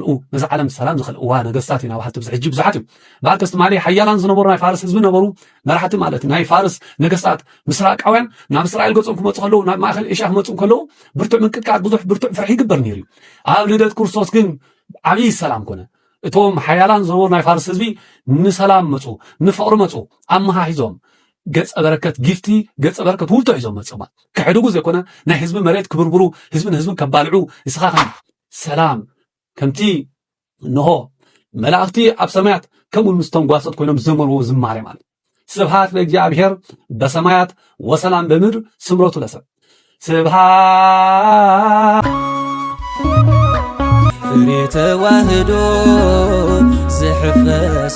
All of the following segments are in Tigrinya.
ርኡ ነዛ ዓለም ሰላም ዝኸልእዋ ነገስታት ኢና በሃልቲ ብዚ ሕጂ ብዙሓት እዮም በዓል ከስትማሊ ሓያላን ዝነበሩ ናይ ፋርስ ህዝቢ ነበሩ መራሕቲ ማለት ናይ ፋርስ ነገስታት ምስራቃውያን ናብ እስራኤል ገጾም ክመፁ ከለዉ ናብ ማእኸል ኤሽያ ክመፁ ከለዉ ብርቱዕ ምንቅጥቃጥ ብዙሕ ብርቱዕ ፍርሒ ይግበር ነይሩ እዩ ኣብ ልደት ክርስቶስ ግን ዓብዪ ሰላም ኮነ እቶም ሓያላን ዝነበሩ ናይ ፋርስ ህዝቢ ንሰላም መፁ ንፍቕሪ መፁ ኣመሃሂዞም ገጸ በረከት ጊፍቲ ገጸ በረከት ውልቶ ሒዞም መፅማ ክሕድጉ ዘይኮነ ናይ ህዝቢ መሬት ክብርብሩ ህዝቢ ንህዝቢ ከባልዑ ንስኻ ሰላም ከምቲ እንሆ መላእኽቲ ኣብ ሰማያት ከምኡ ምስ ተንጓሰት ኮይኖም ዘመርዎ ዝማሬ ማለት ስብሃት ለእግዚኣብሔር በሰማያት ወሰላም በምድር ስምረቱ ለሰብ ስብሃት ፍሬ ተዋህዶ ዝሕፈስ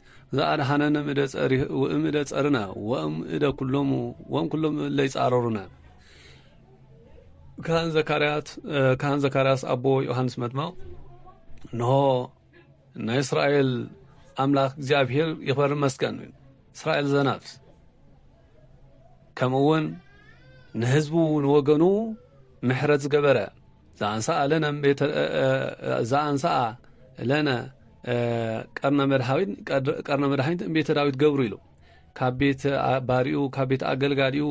ዘኣድኃነነ እምእደ ጸሪህ ወእምእደ ጸርና ወእምእደ ኩሎሙ ወእምኩሎም እለ ይጻረሩነ ካህን ዘካርያት ካህን ዘካርያስ ኣቦ ዮሐንስ መጥመቕ እንሆ ናይ እስራኤል ኣምላኽ እግዚኣብሔር ይኽበር መስገን እስራኤል ዘነፍስ ከምኡ እውን ንህዝቡ ንወገኑ ምሕረት ዝገበረ ዘኣንሰኣ ለነ ቤተ ዘኣንሰኣ ለነ ቀርነ መድሃዊት ቀርነ መድሃኒት እምቤተ ዳዊት ገብሩ ኢሉ ካብ ቤት ባሪኡ ካብ ቤት ኣገልጋሊኡ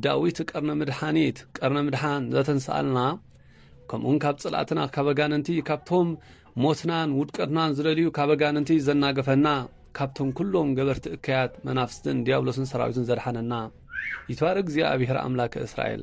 ዳዊት ቀርነ መድሓኒት ቀርነ ምድሓን ዘተንስኣልና ከምኡውን ካብ ጽላእትና ካብ ኣጋንንቲ ካብቶም ሞትናን ውድቀትናን ዝደልዩ ካብ ኣጋንንቲ ዘናገፈና ካብቶም ኩሎም ገበርቲ እከያት መናፍስትን ዲያብሎስን ሰራዊትን ዘድሓነና ይትባረ እግዚኣብሔር ኣምላከ እስራኤል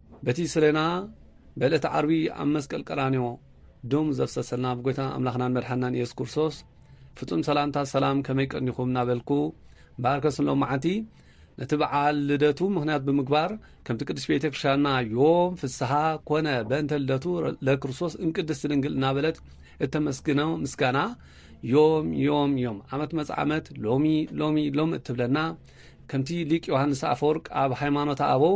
በቲ ስለና በለቲ ዓርቢ ኣብ መስቀል ቀራንዮ ደሙ ዘፍሰሰልና ኣብ ጎይታና ኣምላኽናን መድሓናን ኢየሱስ ክርስቶስ ፍጹም ሰላምታ ሰላም ከመይ ቀኒኹም እናበልኩ ባርከ ስሎም መዓልቲ ነቲ በዓል ልደቱ ምክንያት ብምግባር ከምቲ ቅዱስ ቤተ ክርስትያንና ዮም ፍስሓ ኮነ በእንተ ልደቱ ለክርስቶስ እምቅድስቲ ድንግል እናበለት እተመስግኖ ምስጋና ዮም ዮም ዮም ዓመት መፅ ዓመት ሎሚ ሎሚ ሎም እትብለና ከምቲ ሊቅ ዮሃንስ ኣፈወርቅ ኣብ ሃይማኖት ኣበው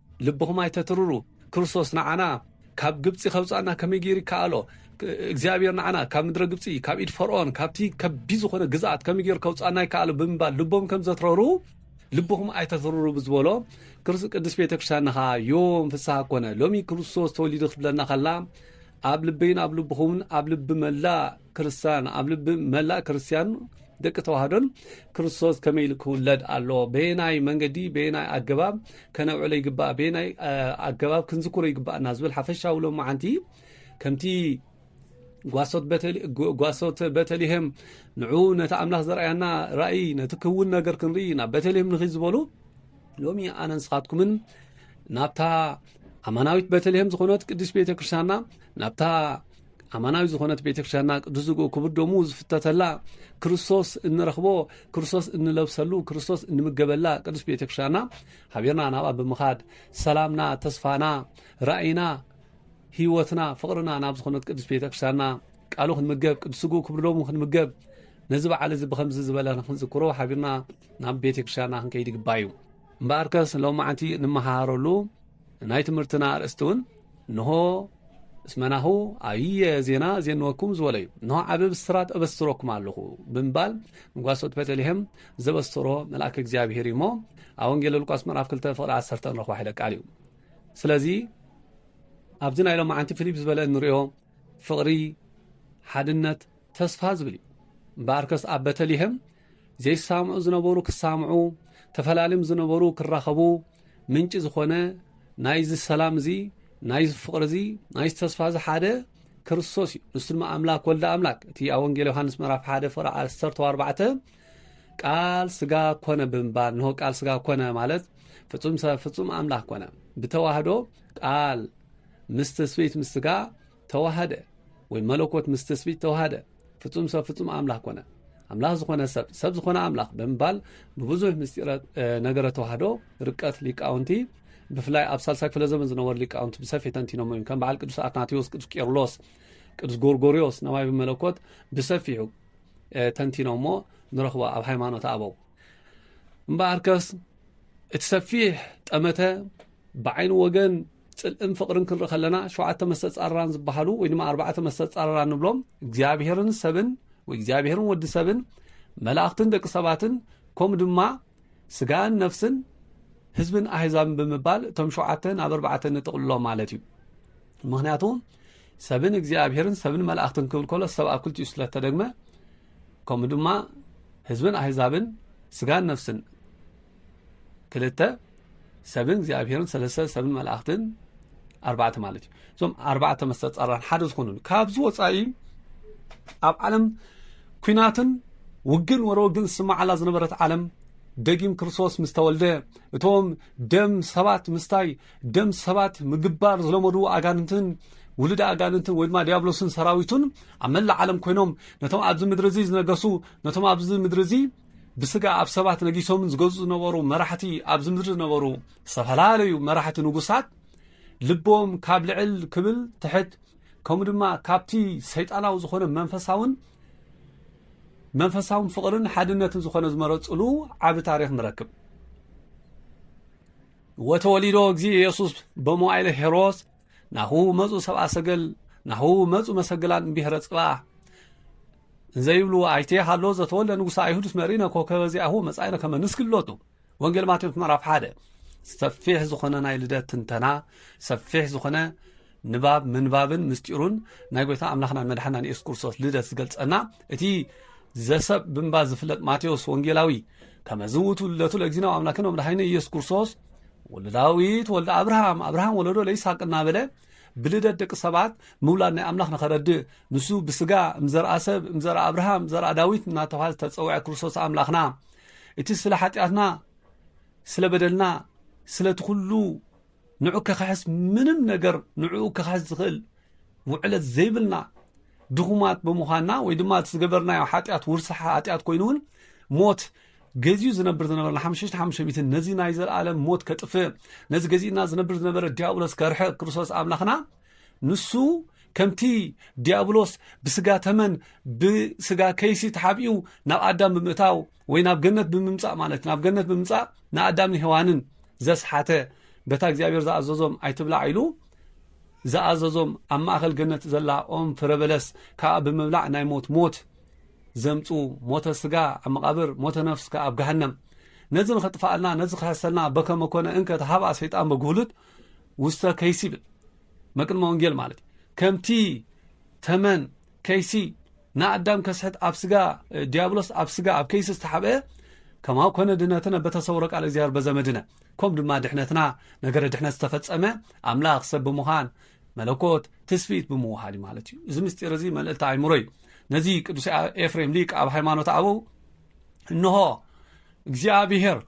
ልብኹም ኣይተትርሩ፣ ክርስቶስ ንዓና ካብ ግብጺ ከውጽኣና ከመይ ገይሩ ይከኣሎ? እግዚኣብሔር ንዓና ካብ ምድረ ግብጺ፣ ካብ ኢድ ፈርዖን፣ ካብቲ ከቢድ ዝኾነ ግዝኣት ከመይ ገይሩ ከውጽኣና ይከኣሎ? ብምባል ልቦም ከም ዘትረሩ ልብኹም ኣይተትርሩ ብዝበሎ ቅድስት ቤተ ክርስቲያንና ከዓ ዮም ፍስሓ ኮነ። ሎሚ ክርስቶስ ተወሊዱ ክትብለና ከላ ኣብ ልበይን ኣብ ልብኹምን ኣብ ልቢ መላእ ክርስቲያን ኣብ ልቢ መላእ ክርስቲያን ደቂ ተዋህዶን ክርስቶስ ከመይ ኢሉ ክውለድ ኣለዎ በየናይ መንገዲ በየናይ ኣገባብ ከነብዕሎ ይግባእ በየናይ ኣገባብ ክንዝክሮ ይግባእና ዝብል ሓፈሻዊ ሎ መዓንቲ ከምቲ ጓሶት በተልሄም ንዑ ነቲ ኣምላኽ ዘርኣያና ራእይ ነቲ ክውን ነገር ክንርኢ ናብ በተልሄም ንኽ ዝበሉ ሎሚ ኣነ ንስኻትኩምን ናብታ ኣማናዊት በተልሄም ዝኾነት ቅዱስ ቤተ ክርስትያንና ናብታ ኣማናዊ ዝኾነት ቤተ ክርስትያንና ቅዱስ ዝግኡ ክቡር ደሙ ዝፍተተላ ክርስቶስ እንረኽቦ ክርስቶስ እንለብሰሉ ክርስቶስ እንምገበላ ቅዱስ ቤተ ክርስትያንና ሓቢርና ናብኣ ብምኻድ ሰላምና ተስፋና ራእይና ህይወትና ፍቕርና ናብ ዝኾነት ቅዱስ ቤተ ክርስትያንና ቃሉ ክንምገብ ቅዱስ ዝግኡ ክቡር ደሙ ክንምገብ ነዚ በዓል እዚ ብከምዚ ዝበለ ንክንዝክሮ ሓቢርና ናብ ቤተ ክርስትያንና ክንከይድ ይግባ እዩ እምበኣርከስ ሎማዕንቲ ንመሃረሉ ናይ ትምህርትና ኣርእስቲ እውን ንሆ እስመናሁ ኣየ ዜና ዜንወኩም ዝበሎ እዩ ንሆ ዓብ ብስራት ኣበስረኩም ኣለኹ ብምባል ንጓሶት ቤተልሄም ዘበሰሮ መልኣክ እግዚኣብሄር እዩ እሞ ኣብ ወንጌል ሉቃስ ምዕራፍ 2 ፍቕሪ 1 ንረኽባ ሒለ ቃል እዩ ስለዚ ኣብዚ ናይ ሎማዓንቲ ፊሊፕ ዝበለ እንሪኦ ፍቕሪ ሓድነት ተስፋ ዝብል እዩ እምበኣርከስ ኣብ ቤተልሄም ዘይሳምዑ ዝነበሩ ክሳምዑ፣ ተፈላልም ዝነበሩ ክራኸቡ ምንጪ ዝኾነ ናይዚ ሰላም እዚ ናይዚ ፍቕሪ እዚ ናይዚ ተስፋ እዚ ሓደ ክርስቶስ እዩ ንሱ ድማ ኣምላክ ወልደ ኣምላክ እቲ ኣብ ወንጌል ዮሃንስ ምዕራፍ ሓደ ፍቅሪ ዓሰርተ ኣርባዕተ ቃል ስጋ ኮነ ብምባል ንሆ ቃል ስጋ ኮነ ማለት ፍጹም ሰብ ፍጹም ኣምላክ ኮነ ብተዋህዶ ቃል ምስ ትስብእት ምስ ስጋ ተዋሃደ ወይ መለኮት ምስ ትስቢት ተዋሃደ ፍጹም ሰብ ፍጹም ኣምላኽ ኮነ ኣምላኽ ዝኾነ ሰብ ሰብ ዝኾነ ኣምላኽ ብምባል ብብዙሕ ምስጢረ ነገረ ተዋህዶ ርቀት ሊቃውንቲ ብፍላይ ኣብ ሳልሳይ ክፍለ ዘመን ዝነበሩ ሊቃውንቲ ብሰፊ ተንቲኖሞ እዮም ከም በዓል ቅዱስ ኣትናቴዎስ ቅዱስ ቄርሎስ ቅዱስ ጎርጎርዮስ ነማይ ብመለኮት ብሰፊሑ ተንቲኖሞ ንረኽቦ ኣብ ሃይማኖት ኣበው እምበኣርከስ እቲ ሰፊሕ ጠመተ ብዓይኒ ወገን ጽልእን ፍቕርን ክንርኢ ከለና ሸውዓተ መስተጻርራን ዝበሃሉ ወይ ድማ ኣርባዕተ መስተጻርራን ንብሎም እግዚኣብሔርን ሰብን ወይ እግዚኣብሔርን ወዲ ሰብን መላእኽትን ደቂ ሰባትን ከምኡ ድማ ስጋን ነፍስን ህዝብን ኣህዛብን ብምባል እቶም ሸውዓተ ናብ ኣርባዕተ ንጥቕልሎም ማለት እዩ ምክንያቱ ሰብን እግዚኣብሔርን ሰብን መላእኽትን ክብል ከሎ ሰብ ኣብ ክልቲኡ ስለ እተደግመ ከምኡ ድማ ህዝብን ኣህዛብን ስጋን ነፍስን ክልተ ሰብን እግዚኣብሔርን ሰለስተ ሰብን መላእኽትን ኣርባዕተ ማለት እዩ እዞም ኣርባዕተ መስተጻራን ሓደ ዝኾኑ ካብዚ ወፃኢ ኣብ ዓለም ኩናትን ውግን ወረ ወግን ዝስማዓላ ዝነበረት ዓለም ደጊም ክርስቶስ ምስ ተወልደ እቶም ደም ሰባት ምስታይ ደም ሰባት ምግባር ዝለመዱ ኣጋንንትን ውሉድ ኣጋንንትን ወይ ድማ ዲያብሎስን ሰራዊቱን ኣብ መላእ ዓለም ኮይኖም ነቶም ኣብዚ ምድሪ እዚ ዝነገሱ ነቶም ኣብዚ ምድሪ እዚ ብስጋ ኣብ ሰባት ነጊሶምን ዝገዝኡ ዝነበሩ መራሕቲ ኣብዚ ምድሪ ዝነበሩ ዝተፈላለዩ መራሕቲ ንጉሳት ልቦም ካብ ልዕል ክብል ትሕት ከምኡ ድማ ካብቲ ሰይጣናዊ ዝኾነ መንፈሳውን መንፈሳውን ፍቕርን ሓድነትን ዝኾነ ዝመረፅሉ ዓቢ ታሪኽ ንረክብ ወተወሊዶ እግዚእ ኢየሱስ በመዋይለ ሄሮስ ናሁ መፁ ሰብኣ ሰገል ናሁ መፁ መሰገላን ብሔረ ጽባ እንዘይብሉ ኣይቴ ሃሎ ዘተወለ ንጉሳ ኣይሁድስ መሪነ ኮከበ ዚኣሁ መጻኢነ ከመ ንስግሎቱ ወንጌል ማቴዎስ ምዕራፍ ሓደ ሰፊሕ ዝኾነ ናይ ልደት ትንተና ሰፊሕ ዝኾነ ንባብ ምንባብን ምስጢሩን ናይ ጎይታ ኣምላኽናን መድሓናን የሱስ ክርስቶስ ልደት ዝገልጸና እቲ ዘሰብ ብምባ ዝፍለጥ ማቴዎስ ወንጌላዊ ከመ ዝውቱ ልደቱ ለእግዚና ኣምላክን መድሓኒ ኢየሱስ ክርስቶስ ወልደ ዳዊት ወልደ ኣብርሃም ኣብርሃም ወለዶ ለይስሓቅ እናበለ ብልደት ደቂ ሰባት ምውላድ ናይ ኣምላኽ ንኸረድእ ንሱ ብስጋ እምዘርኣ ሰብ እምዘርኣ ኣብርሃም ዘርኣ ዳዊት እናተባሃለ ዝተፀውዐ ክርስቶስ ኣምላኽና እቲ ስለ ሓጢኣትና ስለ በደልና ስለቲ ኩሉ ንዑ ከክሕስ ምንም ነገር ንዕኡ ከክሕስ ዝኽእል ውዕለት ዘይብልና ድኹማት ብምዃንና ወይ ድማ እቲ ዝገበርናዮ ሓጢኣት ውርሲ ሓጢኣት ኮይኑ እውን ሞት ገዚኡ ዝነብር ዝነበረ ንሓምሽተ ሓሙሽተ ሚእቲ ነዚ ናይ ዘለኣለም ሞት ከጥፍእ ነዚ ገዚእና ዝነብር ዝነበረ ዲያብሎስ ከርሕቕ ክርስቶስ ኣምላኽና ንሱ ከምቲ ዲያብሎስ ብስጋ ተመን ብስጋ ከይሲ ተሓቢኡ ናብ ኣዳም ብምእታው ወይ ናብ ገነት ብምምፃእ ማለት ናብ ገነት ብምምፃእ ንኣዳም ንሄዋንን ዘስሓተ በታ እግዚኣብሔር ዝኣዘዞም ኣይትብላ ኢሉ ዝኣዘዞም ኣብ ማእኸል ገነት ዘላ ኦም ፍረበለስ ከዓ ብምብላዕ ናይ ሞት ሞት ዘምጽኡ ሞተ ስጋ ኣብ መቓብር ሞተ ነፍስ ከኣ ኣብ ገሃነም ነዚ ንኸጥፍኣልና ነዚ ክሕሰልና በከመ ኮነ እንከ ተሃብኣ ሰይጣን በግሁሉት ውስተ ከይሲ ይብል መቅድመ ወንጌል ማለት ከምቲ ተመን ከይሲ ንኣዳም ከስሕት ኣብ ስጋ ዲያብሎስ ኣብ ስጋ ኣብ ከይሲ ዝተሓብአ ከማው ኮነ ድነትነ በተሰውረ ቃል እግዚኣብሔር በዘመድነ ኮም ድማ ድሕነትና ነገረ ድሕነት ዝተፈጸመ ኣምላኽ ሰብ ብምዃን መለኮት ትስፊት ብምውሃድ ማለት እዩ እዚ ምስጢር እዚ መልእልቲ ኣይምሮ እዩ ነዚ ቅዱስ ኤፍሬም ሊቅ ኣብ ሃይማኖት ኣበው እንሆ እግዚኣብሄር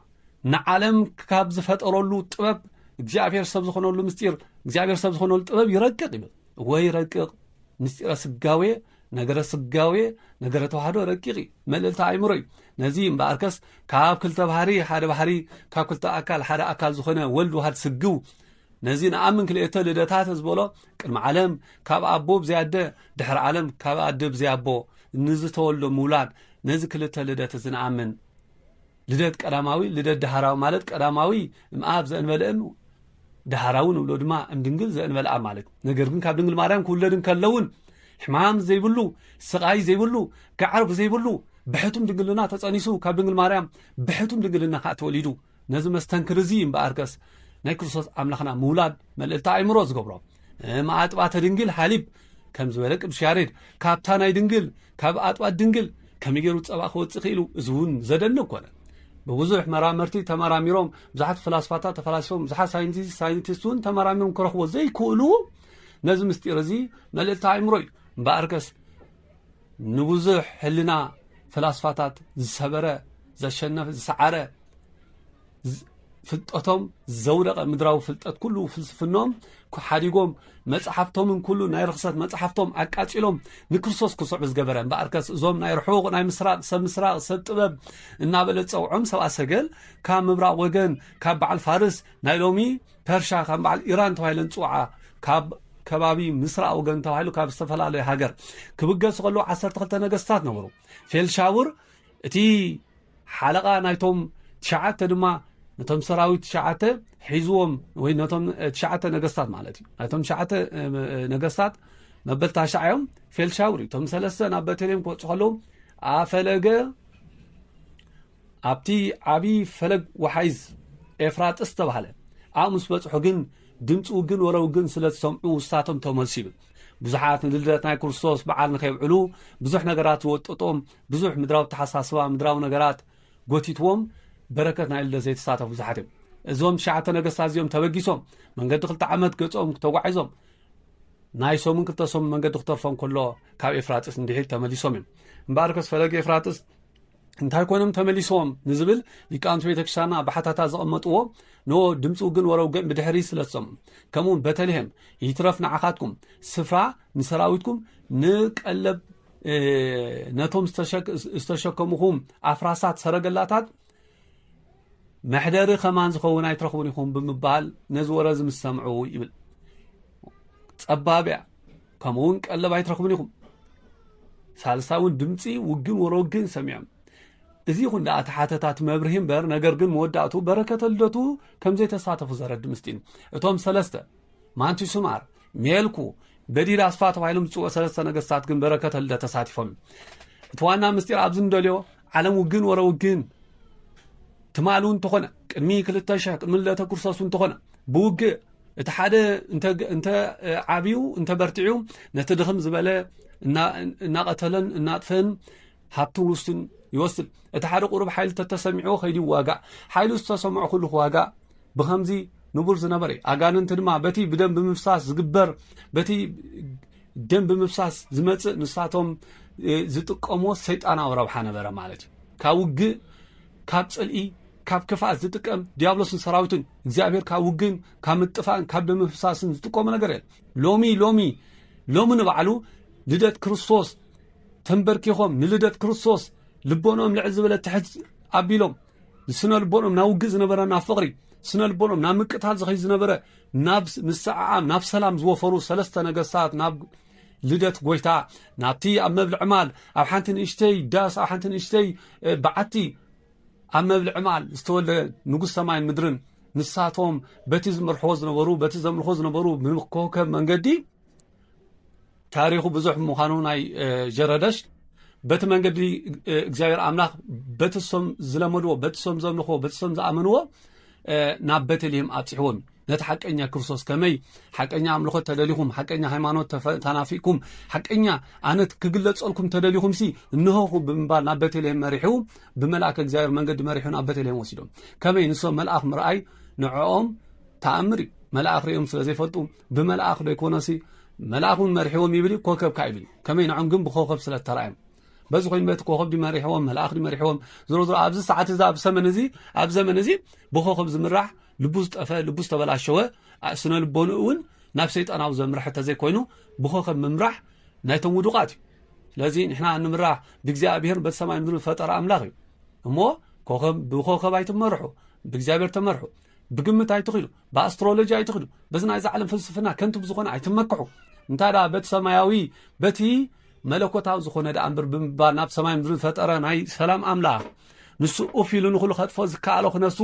ንዓለም ካብ ዝፈጠረሉ ጥበብ እግዚኣብሄር ሰብ ዝኾነሉ ምስጢር እግዚኣብሄር ሰብ ዝኾነሉ ጥበብ ይረቅቕ ይብል ወይ ረቅቕ ምስጢረ ስጋዌ ነገረ ስጋዌ ነገረ ተዋህዶ ረቂቕ እዩ መልእልቲ ኣይምሮ እዩ ነዚ እምበኣርከስ ካብ ክልተ ባህሪ ሓደ ባህሪ ካብ ክልተ ኣካል ሓደ ኣካል ዝኾነ ወልድ ዋሃድ ስግው ነዚ ንኣምን ክልኤተ ልደታተ ዝበሎ ቅድሚ ዓለም ካብ ኣቦ ብዘይ ኣደ ድሕሪ ዓለም ካብ ኣደ ብዘይ ኣቦ ንዝተወልዶ ምውላድ ነዚ ክልተ ልደት እዚ ንኣምን ልደት ቀዳማዊ ልደት ዳህራዊ ማለት ቀዳማዊ እምኣብ ዘእንበለ እም ዳህራዊ ንብሎ ድማ እም ድንግል ዘእንበለ ኣብ ማለት ነገር ግን ካብ ድንግል ማርያም ክውለድ እንከለውን ሕማም ዘይብሉ ስቓይ ዘይብሉ ጋዕርብ ዘይብሉ ብሕቱም ድንግልና ተጸኒሱ ካብ ድንግል ማርያም ብሕቱም ድንግልና ከዓ ተወሊዱ ነዚ መስተንክር እዚ እምበኣርከስ ናይ ክርስቶስ ኣምላኽና ምውላድ መልእልቲ ኣእምሮ ዝገብሮ ማኣጥባተ ድንግል ሃሊብ ከም ዝበለ ቅዱስ ያሬድ ካብታ ናይ ድንግል ካብ ኣጥባት ድንግል ከመይ ገይሩ ፀባ ክወፅእ ክኢሉ እዚ እውን ዘደንቅ ኮነ ብብዙሕ መራመርቲ ተመራሚሮም ብዙሓት ፍላስፋታት ተፈላሲፎም ብዙሓት ሳይንቲስት ሳይንቲስት እውን ተመራሚሮም ክረኽቦ ዘይክእሉ ነዚ ምስጢር እዚ መልእልቲ ኣእምሮ እዩ እምበኣርከስ ንብዙሕ ሕልና ፈላስፋታት ዝሰበረ ዘሸነፈ ዝሰዓረ ፍልጠቶም ዘውደቐ ምድራዊ ፍልጠት ኩሉ ፍልስፍኖም ሓዲጎም መፅሓፍቶምን ኩሉ ናይ ርክሰት መፅሓፍቶም ኣቃፂሎም ንክርስቶስ ክስዕቡ ዝገበረ እምበኣርከስ እዞም ናይ ርሑቕ ናይ ምስራቕ ሰብ ምስራቕ ሰብ ጥበብ እናበለ ዝፀውዖም ሰብኣ ሰገል ካብ ምብራቕ ወገን ካብ በዓል ፋርስ ናይ ሎሚ ፐርሻ ከም በዓል ኢራን ተባሂለን ዝፅውዓ ካብ ከባቢ ምስራቅ ወገን ተባሂሉ ካብ ዝተፈላለዩ ሃገር ክብገሱ ከለዉ 12 ነገስታት ነበሩ ፌልሻውር እቲ ሓለቓ ናይቶም ትሽዓተ ድማ ነቶም ሰራዊት ትሽዓተ ሒዝዎም ወይ ነቶም ትሽዓተ ነገስታት ማለት እዩ ናይቶም ትሽዓተ ነገስታት መበል ታሽዓ እዮም ፌልሻውር እቶም ሰለስተ ናብ ቤተልሔም ክወፁ ከለዉ ኣፈለገ ኣብቲ ዓብዪ ፈለግ ወሓይዝ ኤፍራጥስ ዝተባህለ ኣብኡ ምስ በጽሑ ግን ድምፂ ውግን ወረ ውግን ስለ ዝሰምዑ ውስታቶም ተመልሱ ይብል ብዙሓት ንልደት ናይ ክርስቶስ በዓል ንከብዕሉ ብዙሕ ነገራት ዝወጠጦም ብዙሕ ምድራዊ ተሓሳስባ ምድራዊ ነገራት ጎቲትዎም በረከት ናይ ልደት ዘይተሳተፉ ብዙሓት እዮም እዞም ትሽዓተ ነገስታት እዚኦም ተበጊሶም መንገዲ ክልተ ዓመት ገጾም ተጓዒዞም ናይ ሰሙን ክልተ ሰሙን መንገዲ ክተርፎም ከሎ ካብ ኤፍራጥስ እንድሒር ተመሊሶም እዮም እምበኣርከስ ፈለግ ኤፍራጥስ እንታይ ኮይኖም ተመሊሶም ንዝብል ሊቃውንቲ ቤተ ክርስቲያንና ብሓታታ ዘቐመጥዎ ኖ ድምፂ ውግን ወረ ውግን ብድሕሪ ስለሰሙ ከምኡውን በተልሄም ይትረፍ ንዓኻትኩም ስፍራ ንሰራዊትኩም ንቀለብ ነቶም ዝተሸከምኹም ኣፍራሳት ሰረገላታት መሕደሪ ከማን ዝኸውን ኣይትረኽቡን ኢኹም ብምባል ነዚ ወረ እዚ ምስ ሰምዑ ይብል ጸባብ እያ ከምኡ እውን ቀለብ ኣይትረኽቡን ኢኹም ሳልሳይ እውን ድምፂ ውግን ወረ ውግን ሰሚዖም እዚ ይኹን ደኣ ተሓተታት መብርሂ እምበር ነገር ግን መወዳእቱ በረከተ ልደቱ ከም ዘይተሳተፉ ዘረድ ምስጢን እቶም ሰለስተ ማንቲ ሱማር ሜልኩ በዲድ ኣስፋ ተባሂሎም ዝፅውዑ ሰለስተ ነገስታት ግን በረከተ ልደት ተሳቲፎም እቲ ዋና ምስጢር ኣብዚ እንደልዮ ዓለም ውግን ወረ ውግን ትማል እውን ተኾነ ቅድሚ ክልተ ሽሕ ቅድሚ ልደተ ክርስቶስ እውን ተኾነ ብውግእ እቲ ሓደ እንተ ዓብዩ እንተ በርቲዑ ነቲ ድኽም ዝበለ እናቐተለን እናጥፈን ሃብቲ ውስን ይወስድ እቲ ሓደ ቁሩብ ሓይሊ ተተሰሚዑዎ ከይዲ ይዋጋእ ሓይሉ ዝተሰምዖ ኩሉ ክዋጋእ ብከምዚ ንቡር ዝነበረ እዩ ኣጋንንቲ ድማ በቲ ብደም ብምፍሳስ ዝግበር በቲ ደም ብምፍሳስ ዝመፅእ ንሳቶም ዝጥቀምዎ ሰይጣናዊ ረብሓ ነበረ ማለት እዩ ካብ ውግእ ካብ ፅልኢ ካብ ክፍኣት ዝጥቀም ዲያብሎስን ሰራዊቱን እግዚኣብሔር ካብ ውግን ካብ ምጥፋእን ካብ ደም ምፍሳስን ዝጥቀሙ ነገር የለን ሎሚ ሎሚ ሎሚ ንባዕሉ ልደት ክርስቶስ ተንበርኪኾም ንልደት ክርስቶስ ልቦኖም ልዕል ዝበለ ትሕት ኣቢሎም ስነ ልቦኖም ናብ ውግእ ዝነበረ ናብ ፍቕሪ ስነ ልቦኖም ናብ ምቅታል ዝኸይ ዝነበረ ናብ ምስዕዓም ናብ ሰላም ዝወፈሩ ሰለስተ ነገስታት ናብ ልደት ጎይታ ናብቲ ኣብ መብልዕ ማል ኣብ ሓንቲ ንእሽተይ ዳስ ኣብ ሓንቲ ንእሽተይ በዓቲ ኣብ መብልዒ መዓል ዝተወልደ ንጉስ ሰማይን ምድርን ንሳቶም በቲ ዝመርሕዎ ዝነበሩ በቲ ዘምልኾ ዝነበሩ ብኮከብ መንገዲ ታሪኹ ብዙሕ ምዃኑ ናይ ጀረደሽ በቲ መንገዲ እግዚኣብሔር ኣምላኽ በቲ ሶም ዝለመድዎ በቲ ሶም ዘምልኽዎ በቲ ሶም ዝኣመንዎ ናብ ቤተልሔም ኣብፅሕዎም ነቲ ሓቀኛ ክርስቶስ ከመይ ሓቀኛ ኣምልኾት ተደሊኹም ሓቀኛ ሃይማኖት ተናፊቅኩም ሓቀኛ ኣነት ክግለጸልኩም ተደሊኹም ሲ እንሆኹ ብምባል ናብ ቤተልሄም መሪሑ ብመልኣክ እግዚኣብሔር መንገዲ መሪሑ ናብ ቤተልሄም ወሲዶም ከመይ ንሶም መልኣኽ ምርኣይ ንዕኦም ተኣምር እዩ መልኣኽ ሪኦም ስለ ዘይፈልጡ ብመልኣኽ ዶ ይኮነሲ መልኣኽ እውን መሪሕዎም ይብል ኮከብ ካይብል ከመይ ንዖም ግን ብኮከብ ስለ ተራእዮም በዚ ኮይኑ በቲ ኮኸብ ድዩ መሪሕዎም መልኣኽ ድዩ መሪሕዎም ዝሮ ዝሮ ኣብዚ ሰዓት እዚ ኣብ ሰመን እዚ ኣብ ዘመን እዚ ብኮኸብ ዝምራሕ ልቡ ዝጠፈ ልቡ ዝተበላሸወ ስነ ልቦኑ እውን ናብ ሰይጣናዊ ዘምርሐ ተዘይኮይኑ ብኮኸብ ምምራሕ ናይቶም ውዱቃት እዩ ስለዚ ንሕና ንምራሕ ብእግዚኣብሄር በቲ ሰማይ ምድሪ ፈጠረ ኣምላኽ እዩ እሞ ኮኸብ ብኮኸብ ኣይትመርሑ ብእግዚኣብሄር ተመርሑ ብግምት ኣይትኽዱ ብኣስትሮሎጂ ኣይትኽዱ በዚ ናይዚ ዓለም ፍልስፍና ከንቱ ብዝኾነ ኣይትመክሑ እንታይ ደኣ በቲ ሰማያዊ በቲ መለኮታዊ ዝኾነ ደኣ እምበር ብምባል ናብ ሰማይ ምድሪ ዝፈጠረ ናይ ሰላም ኣምላኽ ንሱ ኡፍ ኢሉ ንኹሉ ከጥፎ ዝከኣሎ ክነሱ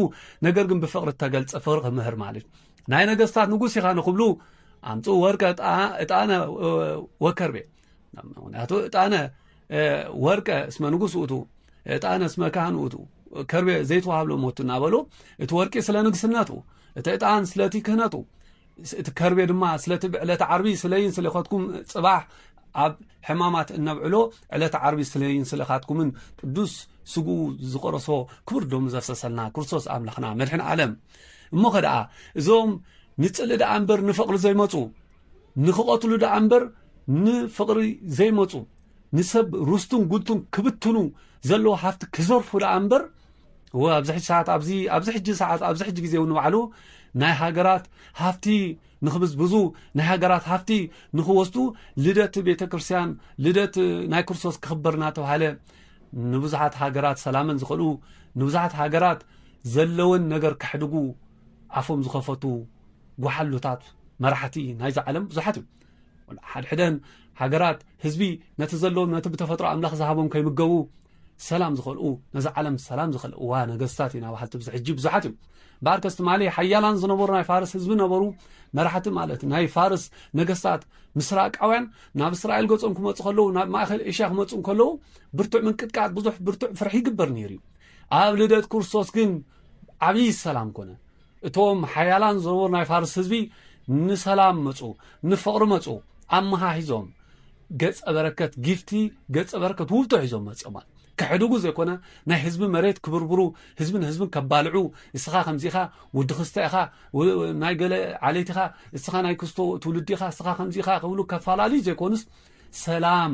ነገር ግን ብፍቕሪ እተገልጸ ፍቕሪ ክምህር ማለት ናይ ነገስታት ንጉስ ኢኻ ንክብሉ ኣምፅኡ ወርቀ እጣነ ወከርቤ ምክንያቱ እጣነ ወርቀ እስመ ንጉስ ውእቱ እጣነ እስመ ካህን ውእቱ ከርቤ ዘይተዋሃብሎ ሞቱ እናበሉ እቲ ወርቂ ስለ ንግስነቱ እቲ እጣን ስለቲ ክህነቱ እቲ ከርቤ ድማ ስለቲ ብዕለተ ዓርቢ ስለይን ስለኸትኩም ጽባሕ ኣብ ሕማማት እነብዕሎ ዕለተ ዓርቢ ስለይን ስለኻትኩምን ቅዱስ ስግኡ ዝቆረሶ ክቡር ደሙ ዘፍሰሰልና ክርስቶስ ኣምላኽና መድሕን ዓለም እሞ ከደኣ እዞም ንጽሊ ደኣ እምበር ንፍቕሪ ዘይመፁ ንክቐትሉ ደኣ እምበር ንፍቕሪ ዘይመፁ ንሰብ ርስቱን ጉልቱን ክብትኑ ዘለዎ ሃፍቲ ክዘርፉ ደኣ እምበር እወ ኣብዚ ሕጂ ሰዓት ኣብዚ ኣብዚ ሕጂ ሰዓት ኣብዚ ሕጂ ግዜ እውን ባዕሉ ናይ ሃገራት ሃፍቲ ንክብዝብዙ ናይ ሃገራት ሃፍቲ ንክወስዱ ልደት ቤተ ክርስትያን ልደት ናይ ክርስቶስ ክኽበር እናተባሃለ ንብዙሓት ሃገራት ሰላመን ዝኸልኡ ንብዙሓት ሃገራት ዘለወን ነገር ከሕድጉ ኣፎም ዝኸፈቱ ጓሓሉታት መራሕቲ ናይዚ ዓለም ብዙሓት እዮም ሓድሕደን ሃገራት ህዝቢ ነቲ ዘለዎም ነቲ ብተፈጥሮ ኣምላኽ ዝሃቦም ከይምገቡ ሰላም ዝኸልኡ ነዛ ዓለም ሰላም ዝኸልእዋ ነገስታት ኢና በሃልቲ ብዚ ሕጂ ብዙሓት እዮም እምበኣር ከስ ትማሊ ሓያላን ዝነበሩ ናይ ፋርስ ህዝቢ ነበሩ መራሕቲ ማለት ናይ ፋርስ ነገስታት ምስራቃውያን ናብ እስራኤል ገጾም ክመፁ ከለዉ ናብ ማእኸል ኤሽያ ክመፁ ከለዉ ብርቱዕ ምንቅጥቃጥ ብዙሕ ብርቱዕ ፍርሒ ይግበር ነይሩ እዩ ኣብ ልደት ክርስቶስ ግን ዓብዪ ሰላም ኮነ እቶም ሓያላን ዝነበሩ ናይ ፋርስ ህዝቢ ንሰላም መጹ፣ ንፍቕሪ መጹ፣ ኣመሃሂዞም ገጸ በረከት ጊፍቲ ገጸ በረከት ውብቶ ሒዞም መጽኦማ ክሕድጉ ዘይኮነ ናይ ህዝቢ መሬት ክብርብሩ ህዝቢ ንህዝብን ከባልዑ እስኻ ከምዚ ኢኻ ወዲ ክስተ ኢኻ ናይ ገለ ዓሌት ኢኻ እስኻ ናይ ክስቶ ትውልዲ ኢኻ እስኻ ከምዚ ኢኻ ክብሉ ከፈላለዩ ዘይኮኑስ ሰላም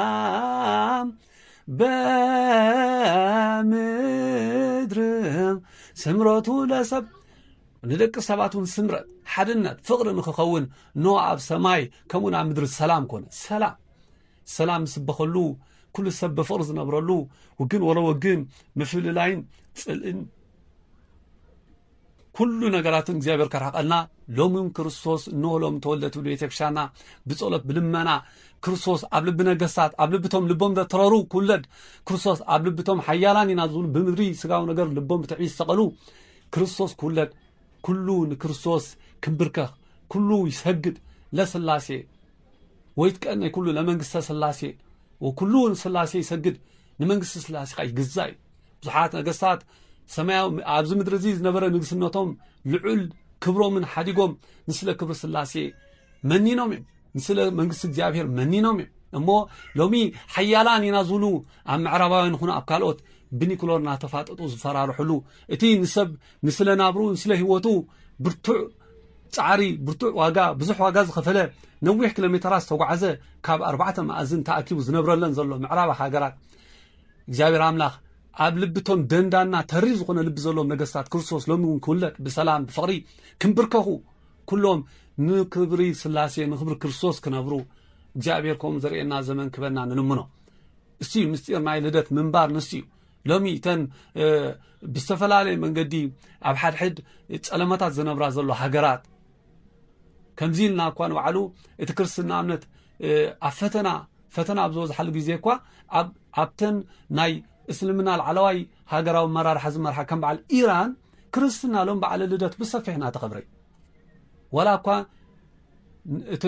ወሰላም በምድር ስምረቱ ለሰብ ንደቂ ሰባት እውን ስምረት ሓድነት ፍቕሪ ንክኸውን ኖ ኣብ ሰማይ ከምኡን ኣብ ምድሪ ሰላም ኮነ ሰላም ሰላም ዝስበኸሉ ኩሉ ሰብ ብፍቕሪ ዝነብረሉ ውግን ወለ ወግን ምፍልላይን ፅልእን ኩሉ ነገራትን እግዚኣብሔር ከርሕቀልና ሎምን ክርስቶስ እነሆ ሎም ተወልደ ትብል ቤተክርስትያንና ብጸሎት ብልመና ክርስቶስ ኣብ ልቢ ነገስታት ኣብ ልብቶም ልቦም ዘትረሩ ክውለድ ክርስቶስ ኣብ ልብቶም ሓያላን ኢና ዝብሉ ብምድሪ ስጋዊ ነገር ልቦም ብትዕቢት ዝተቐሉ ክርስቶስ ክውለድ ኩሉ ንክርስቶስ ክንብርከኽ ኩሉ ይሰግድ ለስላሴ ወይትቀን ናይ ኩሉ ለመንግስተ ስላሴ ወኩሉ ንስላሴ ይሰግድ ንመንግስቲ ስላሴ ኸ ይግዛእ እዩ ብዙሓት ነገስታት ሰማያዊ ኣብዚ ምድሪ እዚ ዝነበረ ንግስነቶም ልዑል ክብሮምን ሓዲጎም ንስለ ክብሪ ስላሴ መኒኖም እዮም ንስለ መንግስቲ እግዚኣብሄር መኒኖም እዮም እሞ ሎሚ ሓያላን ኢና ዝብሉ ኣብ ምዕራባውያን ይኹኑ ኣብ ካልኦት ብኒክሎር እናተፋጠጡ ዝፈራርሕሉ እቲ ንሰብ ንስለ ናብሩ ንስለ ህይወቱ ብርቱዕ ፃዕሪ ብርቱዕ ዋጋ ብዙሕ ዋጋ ዝኸፈለ ነዊሕ ኪሎ ሜተራት ዝተጓዓዘ ካብ ኣርባዕተ መኣዝን ተኣኪቡ ዝነብረለን ዘሎ ምዕራብ ሃገራት እግዚኣብሔር ኣምላክ ኣብ ልቢ እቶም ደንዳና ተሪር ዝኾነ ልቢ ዘለዎም ነገስታት ክርስቶስ ሎሚ እውን ክውለድ ብሰላም ብፍቕሪ ክንብርከኹ ኩሎም ንክብሪ ስላሴ ንክብሪ ክርስቶስ ክነብሩ እግዚኣብሔር ከምኡ ዘርእየና ዘመን ክበና ንልምኖ እሱ እዩ ምስጢር ናይ ልደት ምንባር ንሱ እዩ ሎሚ እተን ብዝተፈላለየ መንገዲ ኣብ ሓድሕድ ጸለመታት ዝነብራ ዘሎ ሃገራት ከምዚ ኢልና እኳ ንባዕሉ እቲ ክርስትና እምነት ኣብ ፈተና ፈተና ኣብ ዝበዝሓሉ ግዜ እኳ ኣብ ኣብተን ናይ እስልምና ላዕለዋይ ሃገራዊ መራርሓ ዝመርሓ ከም በዓል ኢራን ክርስትና ሎም በዓለ ልደት ብሰፊሕ እናተኸብረ እዩ ዋላ እኳ እቲ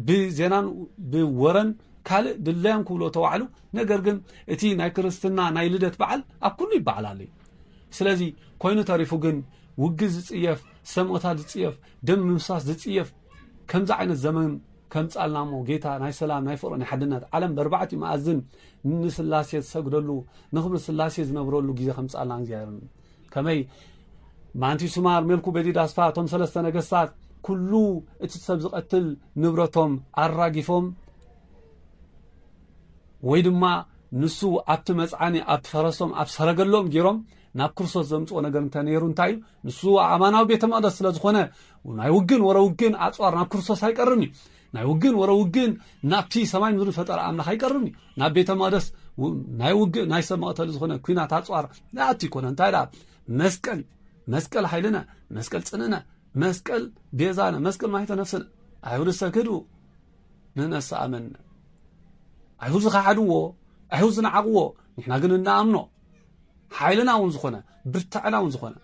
ብዜናን ብወረን ካልእ ድለዮም ክብሎ ተባዕሉ ነገር ግን እቲ ናይ ክርስትና ናይ ልደት በዓል ኣብ ኩሉ ይበዓል ኣሎ እዩ ስለዚ ኮይኑ ተሪፉ ግን ውግዝ ዝፅየፍ ሰምኦታት ዝፅየፍ ደም ምምሳስ ዝፅየፍ ከምዚ ዓይነት ዘመን ከምጻልና እሞ ጌታ ናይ ሰላም ናይ ፍቅሪ ናይ ሓድነት ዓለም በርባዕቲ መኣዝን ንስላሴ ዝሰግደሉ ንክብሪ ስላሴ ዝነብረሉ ግዜ ከምጻልና እግዚኣብሔር ከመይ ማንቲ ስማር ሜልኩ በዲድ ኣስፋ እቶም ሰለስተ ነገስታት ኩሉ እቲ ሰብ ዝቐትል ንብረቶም ኣራጊፎም ወይ ድማ ንሱ ኣብቲ መፅዓኒ ኣብቲ ፈረሶም ኣብ ሰረገሎም ገይሮም ናብ ክርስቶስ ዘምፅኦ ነገር እንተነይሩ እንታይ እዩ ንሱ ኣማናዊ ቤተ መቕደስ ስለ ዝኾነ ናይ ውግን ወረ ውግን ኣጽዋር ናብ ክርስቶስ ኣይቀርብን እዩ ናይ ውግን ወረ ውግን ናብቲ ሰማይ ምድሪ ፈጠረ ኣምላኽ ኣይቀርብን እዩ ናብ ቤተ መቕደስ ናይ ውግእ ናይ ሰብ መቕተሊ ዝኾነ ኩናት ኣጽዋር ንኣቲ ይኮነ እንታይ ደኣ መስቀል መስቀል ሓይልነ መስቀል ጽንእነ መስቀል ቤዛነ መስቀል ማይተ ነፍስነ ኣይሁድ ሰክዱ ንነሳ ኣመነ ኣይሁድ ዝኸሓድዎ ኣይሁድ ዝነዓቕዎ ንሕና ግን እናኣምኖ ሓይልናውን ዝኾነ ብርታዕናውን ዝኾነ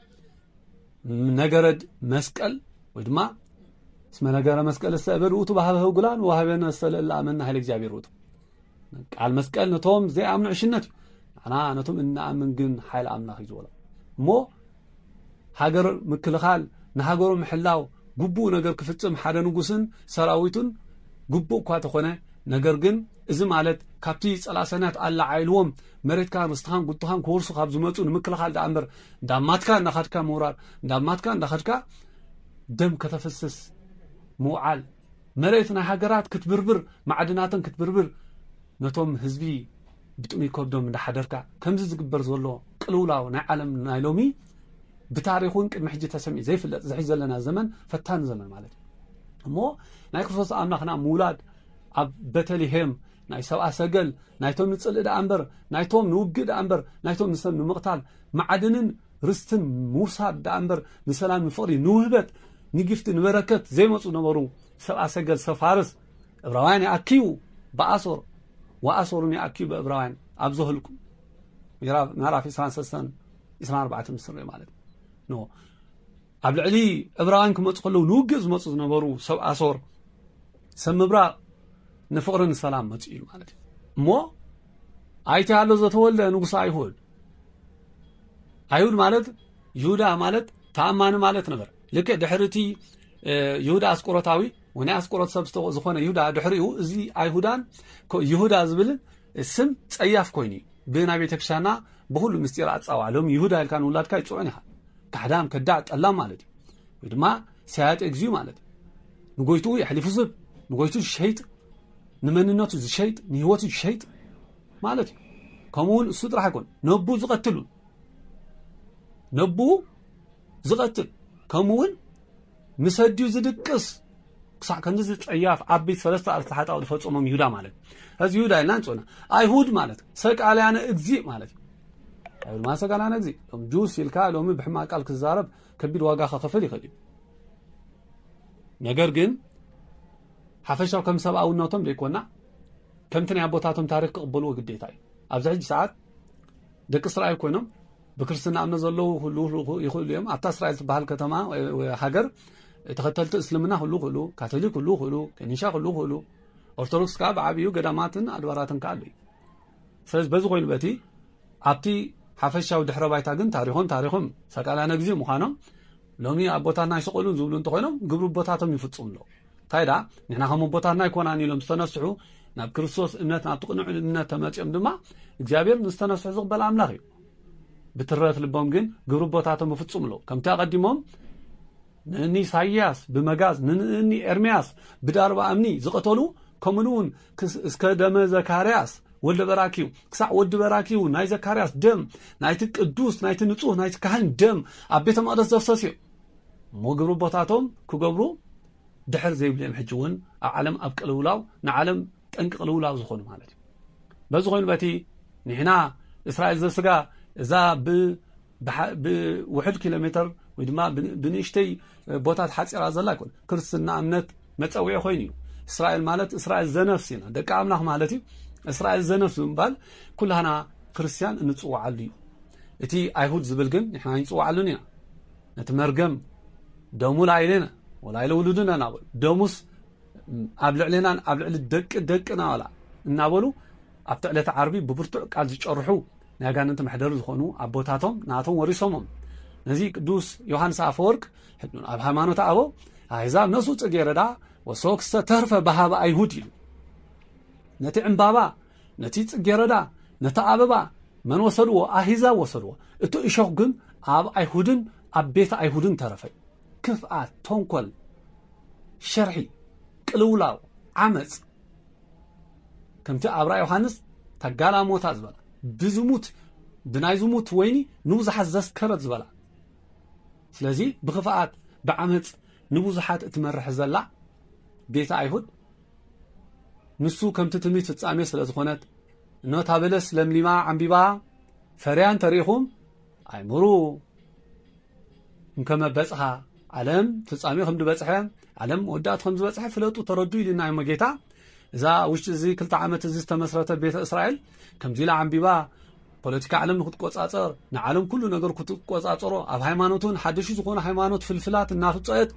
ነገረድ መስቀል ወይ ድማ እስመ ነገረ መስቀል እሰእበድ ውእቱ ባህበ ህጉላን ወሃበነ ሰለእለ ኣመና ኃይለ እግዚኣብሔር ውእቱ ቃል መስቀል ነቶም ዘይኣምኑ ዕሽነት እዩ ንዓና ነቶም እንኣምን ግን ሓይል ኣምላኽ እዩ ዝበሎ እሞ ሃገር ምክልኻል ንሃገሩ ምሕላው ግቡኡ ነገር ክፍጽም ሓደ ንጉስን ሰራዊቱን ግቡእ እኳ ተኾነ ነገር ግን እዚ ማለት ካብቲ ጸላሰናት ኣላዓኢልዎም መሬትካን ርስትኻን ጉድትኻን ክወርሱ ካብ ዝመጹ ንምክልኻል ደኣ እምበር እንዳማትካ እንዳኸድካ ምውራር እንዳማትካ እንዳኸድካ ደም ከተፍስስ ምውዓል መሬት ናይ ሃገራት ክትብርብር ማዕድናተን ክትብርብር ነቶም ህዝቢ ብጥሙይ ከብዶም እንዳሓደርካ ከምዚ ዝግበር ዘሎ ቅልውላው ናይ ዓለም ናይ ሎሚ ብታሪክ እውን ቅድሚ ሕጂ ተሰሚዑ ዘይፍለጥ ዝሕጂ ዘለና ዘመን ፈታኒ ዘመን ማለት እዩ እሞ ናይ ክርስቶስ ኣምላኽና ምውላድ ኣብ ቤተልሄም ናይ ሰብኣ ሰገል ናይቶም ንጽልኢ ደኣ እምበር ናይቶም ንውግእ ደኣ እምበር ናይቶም ንሰብ ንምቕታል ማዕድንን ርስትን ምውሳድ ደኣ እምበር ንሰላም ንፍቕሪ ንውህበት ንጊፍቲ ንበረከት ዘይመፁ ነበሩ ሰብኣ ሰገል ሰብ ፋርስ እብራውያን ይኣክዩ ብኣሶር ወኣሰሩኒ ኣኪዩ ብእብራውያን ኣብ ዘህልቁ ምዕራፍ 23 24 ምስ ንሪኦ ማለት ኖ ኣብ ልዕሊ እብራውያን ክመፁ ከለዉ ንውግእ ዝመፁ ዝነበሩ ሰብ ኣሶር ሰብ ምብራቕ ንፍቕሪ ንሰላም መፁ እዩ ማለት እዩ እሞ ኣይተ ኣሎ ዘተወልደ ንጉስ ኣይሁድ ኣይሁድ ማለት ይሁዳ ማለት ተኣማኒ ማለት ነበር ልክዕ ድሕሪ እቲ ይሁዳ ኣስቆሮታዊ ወናይ ኣስቆሮት ሰብ ዝኾነ ይሁዳ ድሕሪኡ እዚ ኣይሁዳን ይሁዳ ዝብል ስም ጸያፍ ኮይኑ እዩ ብናይ ቤተክርስትያንና ብኩሉ ምስጢር ኣጻዋዕ ሎም ይሁዳ ኢልካ ንውላድካ ይጽዑን ኢኻ ካሕዳም ከዳዕ ጠላም ማለት እዩ ወይ ድማ ሰያጢ እግዚኡ ማለት እዩ ንጎይትኡ የሕሊፉ ዝብ ንጎይቱ ዝሸይጥ ንመንነቱ ዝሸይጥ ንህይወቱ ዝሸይጥ ማለት እዩ ከምኡውን እሱ ጥራሕ ኣይኮን ነቡ ዝቐትል ነቡ ዝቐትል ከምኡውን ምስ ኣዲኡ ዝድቅስ ክሳዕ ከምዚ ጸያፍ ዓበይቲ ሰለስተ ኣርእስቲ ሓጣው ዝፈጸሞም ይሁዳ ማለት እዚ ይሁዳ ኢልና ንጽውና ኣይሁድ ማለት ሰቃልያነ እግዚእ ማለት ኣይሁድ ማለት ሰቃልያነ እግዚእ እቶም ጁስ ኢልካ ሎሚ ብሕማቅ ቃል ክዛረብ ከቢድ ዋጋ ከኸፍል ይኽእል እዩ ነገር ግን ሓፈሻው ከም ሰብኣውነቶም ዘይኮና ከምቲ ናይ ኣቦታቶም ታሪክ ክቕበልዎ ግዴታ እዩ ኣብዚ ሕጂ ሰዓት ደቂ እስራኤል ኮይኖም ብክርስትና እምነት ዘለዉ ክህልዉ ይኽእሉ እዮም ኣብታ እስራኤል ትበሃል ከተማ ሃገር ተኸተልቲ እስልምና ክህልዉ ክእሉ ካቶሊክ ክህልዉ ክእሉ ከኒሻ ክህልዉ ክእሉ ኦርቶዶክስ ከዓ ብዓብዩ ገዳማትን ኣድባራትን ከዓ ኣለዩ ስለዚ በዚ ኮይኑ በቲ ኣብቲ ሓፈሻዊ ድሕረ ባይታ ግን ታሪኾም ታሪኾም ሰቃላነ ግዜ ምዃኖም ሎሚ ኣቦታትና ይሰቀሉን ዝብሉ እንተኾይኖም ግብሪ ቦታቶም ይፍፅሙ ኣለዉ እንታይ ደኣ ንሕና ከም ኣቦታትና ኣይኮናን ኢሎም ዝተነስሑ ናብ ክርስቶስ እምነት ናብቲ ቅኑዕ እምነት ተመፅኦም ድማ እግዚኣብሔር ንዝተነስሑ ዝቕበል ኣምላኽ እዩ ብትረፍ ልቦም ግን ግብሪ ኣቦታቶም እፍጹም ኣለዉ ከምቲ ኣቐዲሞም ንእኒ ኢሳይያስ ብመጋዝ ንእኒ ኤርምያስ ብዳርባ እምኒ ዝቐተሉ ከምኡ እውን እስከ ደመ ዘካርያስ ወልደ በራኪዩ ክሳዕ ወዲ በራኪዩ ናይ ዘካርያስ ደም ናይቲ ቅዱስ ናይቲ ንጹህ ናይቲ ካህን ደም ኣብ ቤተ መቕደስ ዘፍሰስ እዩ እሞ ግብሪ ቦታቶም ክገብሩ ድሕር ዘይብሉ እዮም ሕጂ እውን ኣብ ዓለም ኣብ ቅልውላው ንዓለም ጠንቂ ቅልውላው ዝኾኑ ማለት እዩ በዚ ኮይኑ በቲ ንሕና እስራኤል ዘስጋ እዛ ብውሕድ ኪሎ ሜተር ወይ ድማ ብንእሽተይ ቦታ ተሓፂራ ዘላ ኣይኮነ ክርስትና እምነት መፀውዒ ኮይኑ እዩ እስራኤል ማለት እስራኤል ዘነፍስ ኢና ደቂ ኣምላኽ ማለት እዩ እስራኤል ዘነፍስ ብምባል ኩላና ክርስትያን እንፅዋዓሉ እዩ እቲ ኣይሁድ ዝብል ግን ንሕና ይንፅዋዓሉን ኢና ነቲ መርገም ደሙ ላይሌነ ወላይለ ውሉድነ ናበሉ ደሙስ ኣብ ልዕሌናን ኣብ ልዕሊ ደቂ ደቅና ዋላ እናበሉ ኣብቲ ዕለተ ዓርቢ ብብርቱዕ ቃል ዝጨርሑ ናይ ኣጋንንቲ መሕደሪ ዝኾኑ ኣቦታቶም ናቶም ወሪሶሞም ነዚ ቅዱስ ዮሃንስ ኣፈወርቅ ኣብ ሃይማኖት ኣበው ኣሕዛብ ነሱ ጽጌረዳ ወሰወክሰ ተርፈ ባህበ ኣይሁድ ኢሉ ነቲ ዕምባባ ነቲ ጽጌረዳ ነቲ ኣበባ መን ወሰድዎ ኣሂዛ ወሰድዎ እቲ እሾኽ ግን ኣብ ኣይሁድን ኣብ ቤት ኣይሁድን ተረፈ ክፍኣት፣ ተንኮል፣ ሽርሒ፣ ቅልውላው፣ ዓመጽ ከምቲ ኣብራ ዮሃንስ እታ ጋላሞታ ዝበላ ብዝሙት ብናይ ዝሙት ወይኒ ንብዙሓት ዘስከረት ዝበላ ስለዚ ብክፍኣት ብዓመጽ ንብዙሓት እትመርሕ ዘላ ቤተ ኣይሁድ ንሱ ከምቲ ትምኒት ፍጻሜ ስለ ዝኾነት እነታ በለስ ለምሊማ ዓምቢባ ፈርያን ተሪኢኹም ኣይምሩ እንከመ በጽሓ ዓለም ፍጻሜ ከም ዝበጽሐ ዓለም መወዳእቱ ከም ዝበጽሐ ፍለጡ ተረዱ ኢልና እዩሞ ጌታ እዛ ውሽጢ እዚ ክልተ ዓመት እዚ ዝተመስረተ ቤተ እስራኤል ከምዚ ኢላ ዓንቢባ ፖለቲካ ዓለም ንክትቆጻጸር ንዓለም ኩሉ ነገር ክትቆጻጸሮ ኣብ ሃይማኖት እውን ሓደሹ ዝኾኑ ሃይማኖት ፍልፍላት እናፍፀት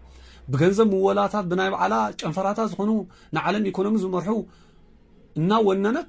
ብገንዘብ ምወላታት ብናይ በዓላ ጨንፈራታት ዝኾኑ ንዓለም ኢኮኖሚ ዝመርሑ እናወነነት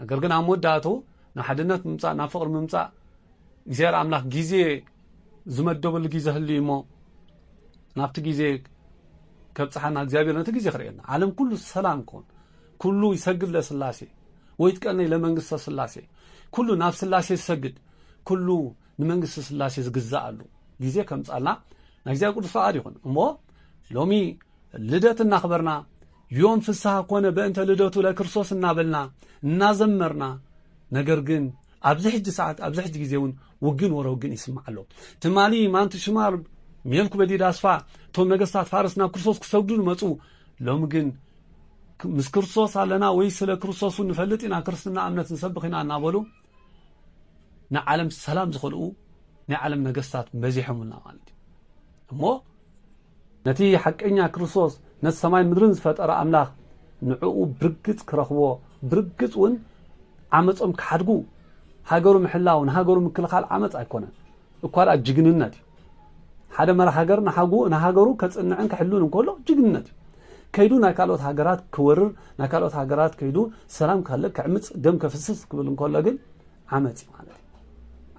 ነገር ግን ኣብ መወዳእትኡ ናብ ሓድነት ምምፃእ ናብ ፍቕሪ ምምፃእ እግዚኣብሔር ኣምላኽ ግዜ ዝመደበሉ ግዜ ህሉ እሞ ናብቲ ግዜ ከብፅሓና እግዚኣብሔር ነቲ ግዜ ክርእየና ዓለም ኩሉ ሰላም ክኾን ኩሉ ይሰግድ ለስላሴ ወይ ትቀነይ ለመንግስተ ስላሴ ኩሉ ናብ ስላሴ ዝሰግድ ኩሉ ንመንግስቲ ስላሴ ዝግዛእ ኣሉ ግዜ ከምፃልና ናይ እግዚኣብሔር ቅዱስ ፈቓድ ይኹን እሞ ሎሚ ልደት እናኽበርና ዮም ፍስሃ ኮነ በእንተ ልደቱ ለክርስቶስ እናበልና እናዘመርና ነገር ግን ኣብዚ ሕጂ ሰዓት ኣብዚ ሕጂ ግዜ እውን ውግን ወረ ውግን ይስማዕ ኣሎ ትማሊ ማንቲ ሽማር ሜልኩ በዲድ ኣስፋ እቶም ነገስታት ፋርስ ናብ ክርስቶስ ክሰግዱ መፁ ሎሚ ግን ምስ ክርስቶስ ኣለና ወይ ስለ ክርስቶስ ንፈልጥ ኢና ክርስትና እምነት ንሰብኽ ኢና እናበሉ ንዓለም ሰላም ዝኸልኡ ናይ ዓለም ነገስታት በዚሖምና ማለት እዩ እሞ ነቲ ሓቀኛ ክርስቶስ ነቲ ሰማይ ምድርን ዝፈጠረ ኣምላኽ ንዕኡ ብርግጽ ክረኽቦ ብርግጽ እውን ዓመጾም ክሓድጉ ሃገሩ ምሕላው ንሃገሩ ምክልኻል ዓመፅ ኣይኮነን እኳ ድኣ ጅግንነት እዩ ሓደ መራሕ ሃገር ንሃገሩ ከጽንዕን ክሕሉን እንከሎ ጅግንነት እዩ ከይዱ ናይ ካልኦት ሃገራት ክወርር ናይ ካልኦት ሃገራት ከይዱ ሰላም ካለ ክዕምፅ ደም ከፍስስ ክብል እንከሎ ግን ዓመፅ እዩ ማለት እዩ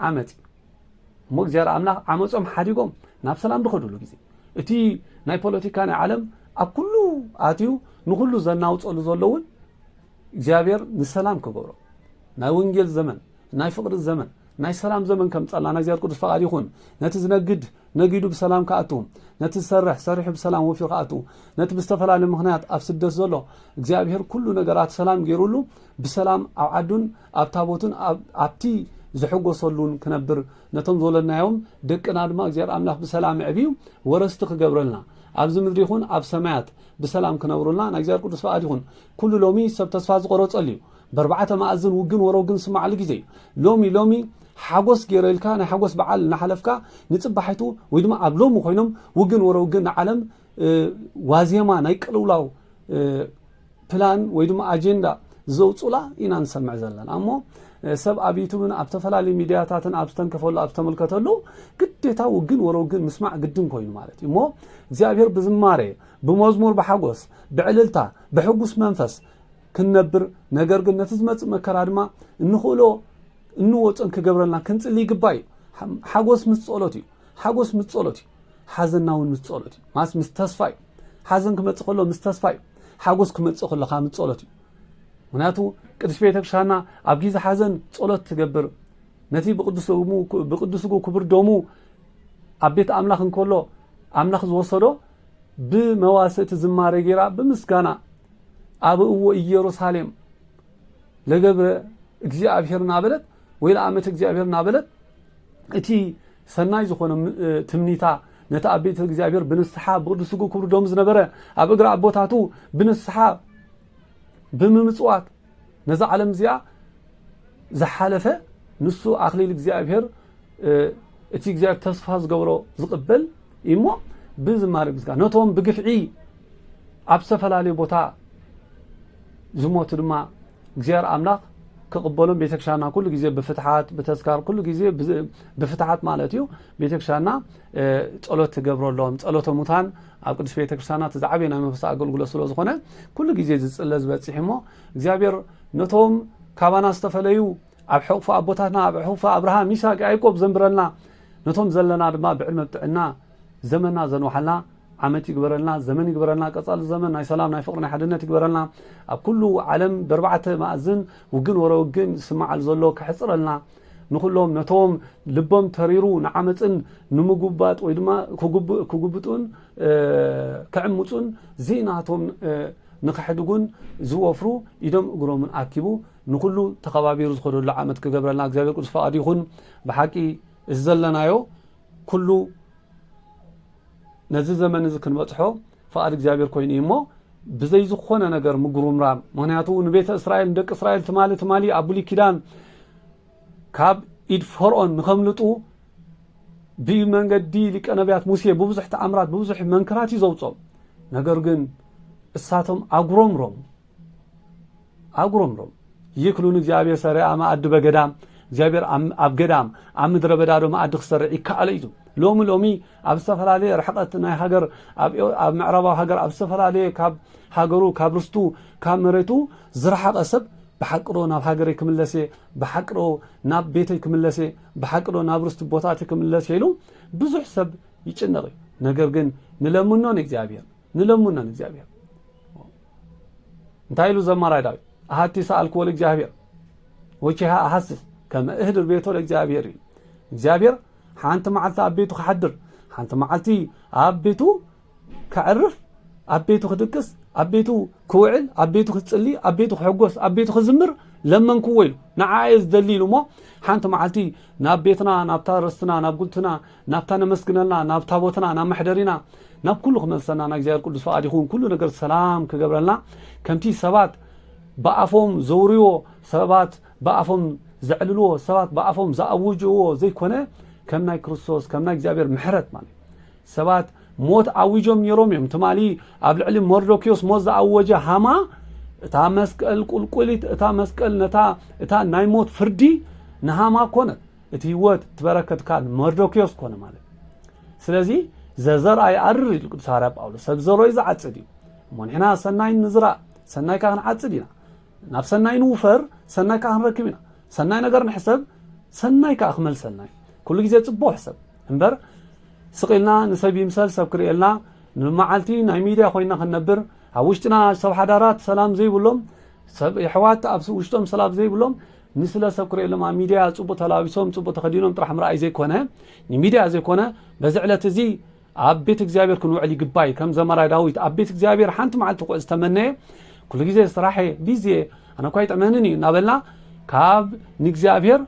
ዓመፅ እዩ እሞ እግዚኣብሔር ኣምላኽ ዓመፆም ሓዲጎም ናብ ሰላም ዝኸድሉ ግዜ እቲ ናይ ፖለቲካ ናይ ዓለም ኣብ ኩሉ ኣትዩ ንኩሉ ዘናውፀሉ ዘሎ እውን እግዚኣብሔር ንሰላም ክገብሮ ናይ ወንጌል ዘመን ናይ ፍቅሪ ዘመን ናይ ሰላም ዘመን ከምጸላ ናይ እግዚኣብሔር ቅዱስ ፈቃድ ይኹን ነቲ ዝነግድ ነጊዱ ብሰላም ክኣቱ ነቲ ዝሰርሕ ሰሪሑ ብሰላም ወፊሩ ክኣቱ ነቲ ብዝተፈላለየ ምክንያት ኣብ ስደት ዘሎ እግዚኣብሔር ኩሉ ነገራት ሰላም ገይሩሉ ብሰላም ኣብ ዓዱን ኣብ ታቦቱን ኣብቲ ዝሕጎሰሉን ክነብር ነቶም ዝወለድናዮም ደቅና ድማ እግዚኣብሔር ኣምላኽ ብሰላም ኣዕብዩ ወረስቲ ክገብረልና ኣብዚ ምድሪ ይኹን ኣብ ሰማያት ብሰላም ክነብሩልና ናይ እግዚኣብሔር ቅዱስ ፈቃድ ይኹን ኩሉ ሎሚ ሰብ ተስፋ ዝቆረጸሉ እዩ በርባዕተ መኣዝን ውግን ወሮግን ዝስማዓሉ ግዜ እዩ ሎሚ ሎሚ ሓጎስ ጌረ ኢልካ ናይ ሓጎስ በዓል እናሓለፍካ ንጽባሒቱ ወይ ድማ ኣብ ሎሚ ኮይኖም ውግን ወሮግን ንዓለም ዋዜማ ናይ ቅልውላው ፕላን ወይ ድማ ኣጀንዳ ዘውጹላ ኢና ንሰምዕ ዘለና እሞ ሰብ ኣብ ዩቱብን ኣብ ተፈላለዩ ሚድያታትን ኣብ ዝተንከፈሉ ኣብ ዝተመልከተሉ ግዴታ ውግን ወሮግን ምስማዕ ግድን ኮይኑ ማለት እዩ እሞ እግዚኣብሔር ብዝማሬ ብመዝሙር ብሓጎስ ብዕልልታ ብሕጉስ መንፈስ ክንነብር ነገር ግን ነቲ ዝመጽእ መከራ ድማ እንኽእሎ እንወጾን ክገብረልና ክንጽሊ ይግባእ እዩ ሓጎስ ምስ ጸሎት እዩ ሓጎስ ምስ ጸሎት እዩ ሓዘና እውን ምስ ጸሎት እዩ ማስ ምስ ተስፋ እዩ ሓዘን ክመጽእ ከሎ ምስ ተስፋ እዩ ሓጎስ ክመጽእ ከሎ ካብ ምስ ጸሎት እዩ ምክንያቱ ቅዱስ ቤተክርስትያንና ኣብ ግዜ ሓዘን ጸሎት ትገብር ነቲ ብቅዱስ ስጉ ክብር ደሙ ኣብ ቤት ኣምላኽ እንከሎ ኣምላኽ ዝወሰዶ ብመዋሥእቲ ዝማሬ ገይራ ብምስጋና ኣበእዎ ኢየሩሳሌም ለገብረ እግዚኣብሔር እናበለት ወይ ለኣመተ እግዚኣብሔር እናበለት እቲ ሰናይ ዝኾነ ትምኒታ ነቲ ኣብ ቤተ እግዚኣብሔር ብንስሓ ብቅዱ ስጉ ክብሩ ደሙ ዝነበረ ኣብ እግሪ ኣቦታቱ ብንስሓ ብምምጽዋት ነዛ ዓለም እዚኣ ዝሓለፈ ንሱ ኣክሊል እግዚኣብሔር እቲ እግዚኣብሔር ተስፋ ዝገብሮ ዝቕበል እሞ ብዝማሬ ምስጋና ነቶም ብግፍዒ ኣብ ዝተፈላለዩ ቦታ ዝሞቱ ድማ እግዚኣብሔር ኣምላኽ ክቕበሎም ቤተክርስትያንና ኩሉ ግዜ ብፍትሓት ብተስካር ኩሉ ግዜ ብፍትሓት ማለት እዩ ቤተክርስትያንና ጸሎት ትገብረሎም ጸሎተ ሙታን ኣብ ቅድስት ቤተ ክርስቲያና እቲ ዝዓበየ ናይ መንፈሳዊ ኣገልግሎት ስለ ዝኾነ ኩሉ ግዜ ዝጽለ ዝበጽሕ እሞ እግዚኣብሔር ነቶም ካባና ዝተፈለዩ ኣብ ሕቕፉ ኣቦታትና ኣብ ሕቕፉ ኣብርሃም ይስሐቅ ያዕቆብ ዘንብረልና ነቶም ዘለና ድማ ብዕድመ ብጥዕና ዘመና ዘንውሓልና ዓመት ይግበረልና ዘመን ይግበረልና ቀጻሊ ዘመን ናይ ሰላም ናይ ፍቅሪ ናይ ሓድነት ይግበረልና ኣብ ኩሉ ዓለም በርባዕተ ማእዝን ውግን ወረ ውግን ዝስማዓሉ ዘሎ ከሕጽረልና ንዅሎም ነቶም ልቦም ተሪሩ ንዓመጽን ንምጕባጥ ወይ ድማ ክጕብጡን ክዕምጹን ዘይናቶም ንኸሕድጉን ዝወፍሩ ኢዶም እግሮምን ኣኪቡ ንዅሉ ተኸባቢሩ ዝኸደሉ ዓመት ክገብረልና እግዚኣብሔር ቅዱስ ፈቓዱ ይኹን። ብሓቂ እዚ ዘለናዮ ኵሉ ነዚ ዘመን እዚ ክንበጽሖ ፍቓድ እግዚኣብሔር ኮይኑ እዩ እሞ ብዘይ ዝኾነ ነገር ምጉርምራም ምክንያቱ ንቤተ እስራኤል ንደቂ እስራኤል ትማሊ ትማሊ ኣብ ብሉይ ኪዳን ካብ ኢድ ፈርኦን ንኸምልጡ ብመንገዲ ሊቀ ነቢያት ሙሴ ብብዙሕ ተኣምራት ብብዙሕ መንክራት እዩ ዘውፆም ነገር ግን እሳቶም ኣጉረምሮም ኣጉረምሮም ይክሉ ንእግዚኣብሔር ሰሪኣ መኣዲ በገዳም እግዚኣብሔር ኣብ ገዳም ኣብ ምድረ በዳ ዶ መኣዲ ክሰርዕ ይከኣሎ እዩ ሎሚ ሎሚ ኣብ ዝተፈላለየ ርሕቀት ናይ ሃገር ኣብ ምዕራባዊ ሃገር ኣብ ዝተፈላለየ ካብ ሃገሩ ካብ ርስቱ ካብ መሬቱ ዝረሓቐ ሰብ ብሓቅዶ ናብ ሃገረይ ክምለስ እየ ብሓቅዶ ናብ ቤተይ ክምለስ እየ ብሓቅዶ ናብ ርስቲ ቦታቲ ክምለስ እየ ኢሉ ብዙሕ ሰብ ይጭነቕ እዩ ነገር ግን ንለምኖ ንእግዚኣብሔር ንለምኖ ንእግዚኣብሔር እንታይ ኢሉ ዘማራይ ዳዊት ኣሃቲ ሰኣልክዎ ለእግዚኣብሔር ወቺሃ ኣሃስስ ከመ እህድር ቤቶ ለእግዚኣብሔር እዩ እግዚኣብሔር ሓንቲ መዓልቲ ኣብ ቤቱ ክሓድር ሓንቲ መዓልቲ ኣብ ቤቱ ከዕርፍ ኣብ ቤቱ ክድቅስ ኣብ ቤቱ ክውዕል ኣብ ቤቱ ክፅሊ ኣብ ቤቱ ክሕጎስ ኣብ ቤቱ ክዝምር ለመንክዎ ኢሉ ንዓየ ዝደሊ ኢሉ እሞ ሓንቲ መዓልቲ ናብ ቤትና ናብታ ርስትና ናብ ጉልትና ናብታ ነመስግነላ ናብ ታቦትና ናብ መሕደሪና ናብ ኩሉ ክመልሰና ናይ እግዚኣብሔር ቅዱስ ፍቃድ ይኩን ኩሉ ነገር ሰላም ክገብረልና ከምቲ ሰባት ብኣፎም ዘውርዎ ሰባት ብኣፎም ዘዕልልዎ ሰባት ብኣፎም ዝኣውጅዎ ዘይኮነ ከም ናይ ክርስቶስ ከም ናይ እግዚኣብሔር ምሕረት ማለት ሰባት ሞት ኣዊጆም ነይሮም እዮም ትማሊ ኣብ ልዕሊ መርዶኪዮስ ሞት ዝኣወጀ ሃማ እታ መስቀል ቁልቁሊት እታ መስቀል ነታ እታ ናይ ሞት ፍርዲ ንሃማ ኮነት እቲ ህይወት እቲ በረከት ከዓ ንመርዶክዮስ ኮነ ማለት እዩ ስለዚ ዘዘርኣ ይኣርር ኢሉ ቅዱስ ሃዋርያ ጳውሎስ ሰብ ዘሮዩ ዝዓፅድ እዩ እሞ ንሕና ሰናይ ንዝራእ ሰናይ ከዓ ክንዓፅድ ኢና ናብ ሰናይ ንውፈር ሰናይ ከዓ ክንረክብ ኢና ሰናይ ነገር ንሕሰብ ሰናይ ከዓ ክመልሰልና እዩ ኩሉ ግዜ ፅቡቅ ሕሰብ እምበር ስቂልና ንሰብ ይምሰል ሰብ ክርእየልና ንመዓልቲ ናይ ሚድያ ኮይና ክንነብር ኣብ ውሽጥና ሰብ ሓዳራት ሰላም ዘይብሎም ሰብ የሕዋት ኣብ ውሽጦም ሰላም ዘይብሎም ንስለ ሰብ ክርእየሎም ኣብ ሚድያ ፅቡቅ ተላቢሶም ፅቡቅ ተኸዲኖም ጥራሕ ምርኣይ ዘይኮነ ንሚድያ ዘይኮነ በዚ ዕለት እዚ ኣብ ቤት እግዚኣብሔር ክንውዕል ይግባይ ከም ዘመራ ዳዊት ኣብ ቤት እግዚኣብሔር ሓንቲ መዓልቲ ክውዕል ዝተመነየ ኩሉ ግዜ ስራሐ ቢዚ እየ ኣነ እኳ ይጥዕመንን እዩ እናበልና ካብ ንእግዚኣብሔር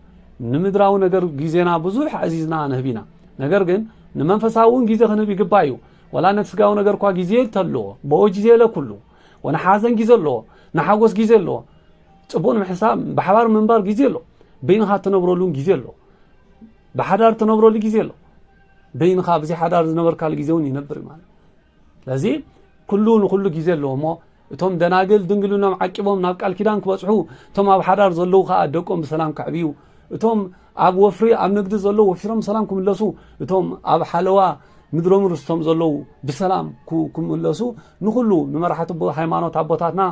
ንምድራዊ ነገር ግዜና ብዙሕ ኣዚዝና ንህብ ኢና ነገር ግን ንመንፈሳዊ እውን ግዜ ክንህብ ይግባይ እዩ ወላ ነቲ ስጋዊ ነገር እኳ ግዜ ተልዎ በወ ግዜ ለኩሉ ወንሓዘን ግዜ ኣለዎ ንሓጎስ ግዜ ኣለዎ ፅቡቅ ንምሕሳብ ብሓባር ምንባር ግዜ ኣሎ በይንኻ እትነብረሉን ግዜ ኣሎ ብሓዳር እትነብረሉ ግዜ ኣሎ በይንኻ ብዚ ሓዳር ዝነበርካሉ ግዜ እውን ይነብር ማለት ስለዚ ኩሉ ንኩሉ ግዜ ኣለዎ እሞ እቶም ደናግል ድንግልኖም ዓቂቦም ናብ ቃል ኪዳን ክበፅሑ እቶም ኣብ ሓዳር ዘለዉ ከዓ ደቆም ብሰላም ከዕብዩ እቶም ኣብ ወፍሪ ኣብ ንግዲ ዘለዉ ወፊሮም ሰላም ክምለሱ እቶም ኣብ ሓለዋ ምድሮም ርስቶም ዘለዉ ብሰላም ክምለሱ ንኩሉ ንመራሕቲ ሃይማኖት ኣቦታትና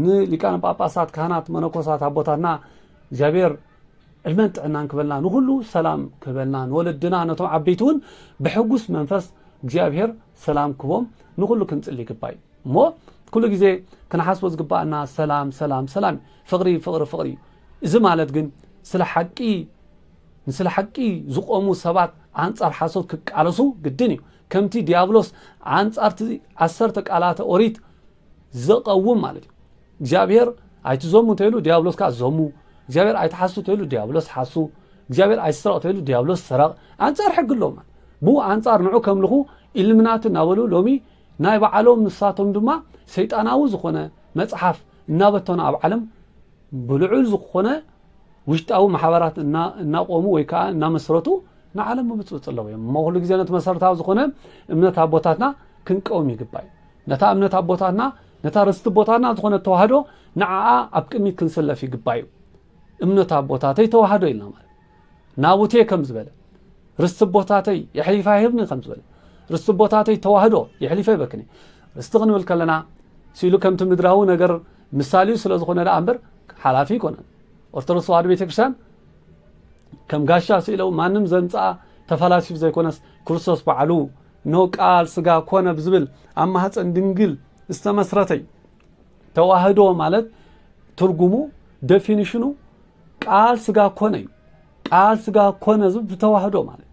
ንሊቃነ ጳጳሳት ካህናት መነኮሳት ኣቦታትና እግዚኣብሔር ዕድመን ጥዕናን ክበልና ንኩሉ ሰላም ክበልና ንወለድና ነቶም ዓበይቲ እውን ብሕጉስ መንፈስ እግዚኣብሔር ሰላም ክቦም ንኩሉ ክንጽሊ ይግባእ እሞ ኩሉ ግዜ ክንሓስቦ ዝግባኣና ሰላም ሰላም ሰላም እዩ ፍቅሪ ፍቅሪ ፍቅሪ እዩ እዚ ማለት ግን ስለ ሓቂ ንስለ ሓቂ ዝቆሙ ሰባት ኣንጻር ሓሶት ክቃለሱ ግድን እዩ ከምቲ ዲያብሎስ ኣንጻርቲ ዓሰርተ ቃላተ ኦሪት ዘቐውም ማለት እዩ እግዚኣብሔር ኣይትዘሙ እንተይሉ ዲያብሎስ ከዓ ዘሙ እግዚኣብሔር ኣይትሓሱ ተይሉ ዲያብሎስ ሓሱ እግዚኣብሔር ኣይስረቕ ተይሉ ዲያብሎስ ሰረቕ ኣንጻር ሕጊ ኣሎ ብኡ ኣንጻር ንዑ ከምልኹ ኢልምናት እናበሉ ሎሚ ናይ ባዓሎም ንሳቶም ድማ ሰይጣናዊ ዝኾነ መጽሓፍ እናበተኑ ኣብ ዓለም ብልዑል ዝኾነ ውሽጣዊ ማሕበራት እናቆሙ ወይ ከዓ እናመስረቱ ንዓለም ምብጽብጽ ኣለዉ እዮም እሞ ኩሉ ግዜ ነቲ መሰረታዊ ዝኾነ እምነት ኣቦታትና ክንቀውም ይግባእ እዩ ነታ እምነት ኣቦታትና ነታ ርስቲ ቦታትና ዝኾነ ተዋህዶ ንዓኣ ኣብ ቅድሚት ክንስለፍ ይግባእ እዩ እምነት ኣቦታተይ ተዋህዶ ኢልና ማለት ናቡቴ ከም ዝበለ ርስቲ ቦታተይ የሕሊፋ ይህብኒ ከም ዝበለ ርስቲ ቦታተይ ተዋህዶ የሕሊፈ ይበክኒ ርስቲ ክንብል ከለና ሲሉ ከምቲ ምድራዊ ነገር ምሳሌኡ ስለ ዝኾነ ደኣ እምበር ሓላፊ ኣይኮነን ኦርቶዶክስ ተዋህዶ ቤተክርስትያን ከም ጋሻ ስኢለው ማንም ዘምፅኣ ተፈላሲፉ ዘይኮነስ ክርስቶስ በዓሉ ኖ ቃል ስጋ ኮነ ብዝብል ኣብ ማህፀን ድንግል ዝተመስረተይ ተዋህዶ ማለት ትርጉሙ ደፊኒሽኑ ቃል ስጋ ኮነ እዩ ቃል ስጋ ኮነ ዝብ ብተዋህዶ ማለት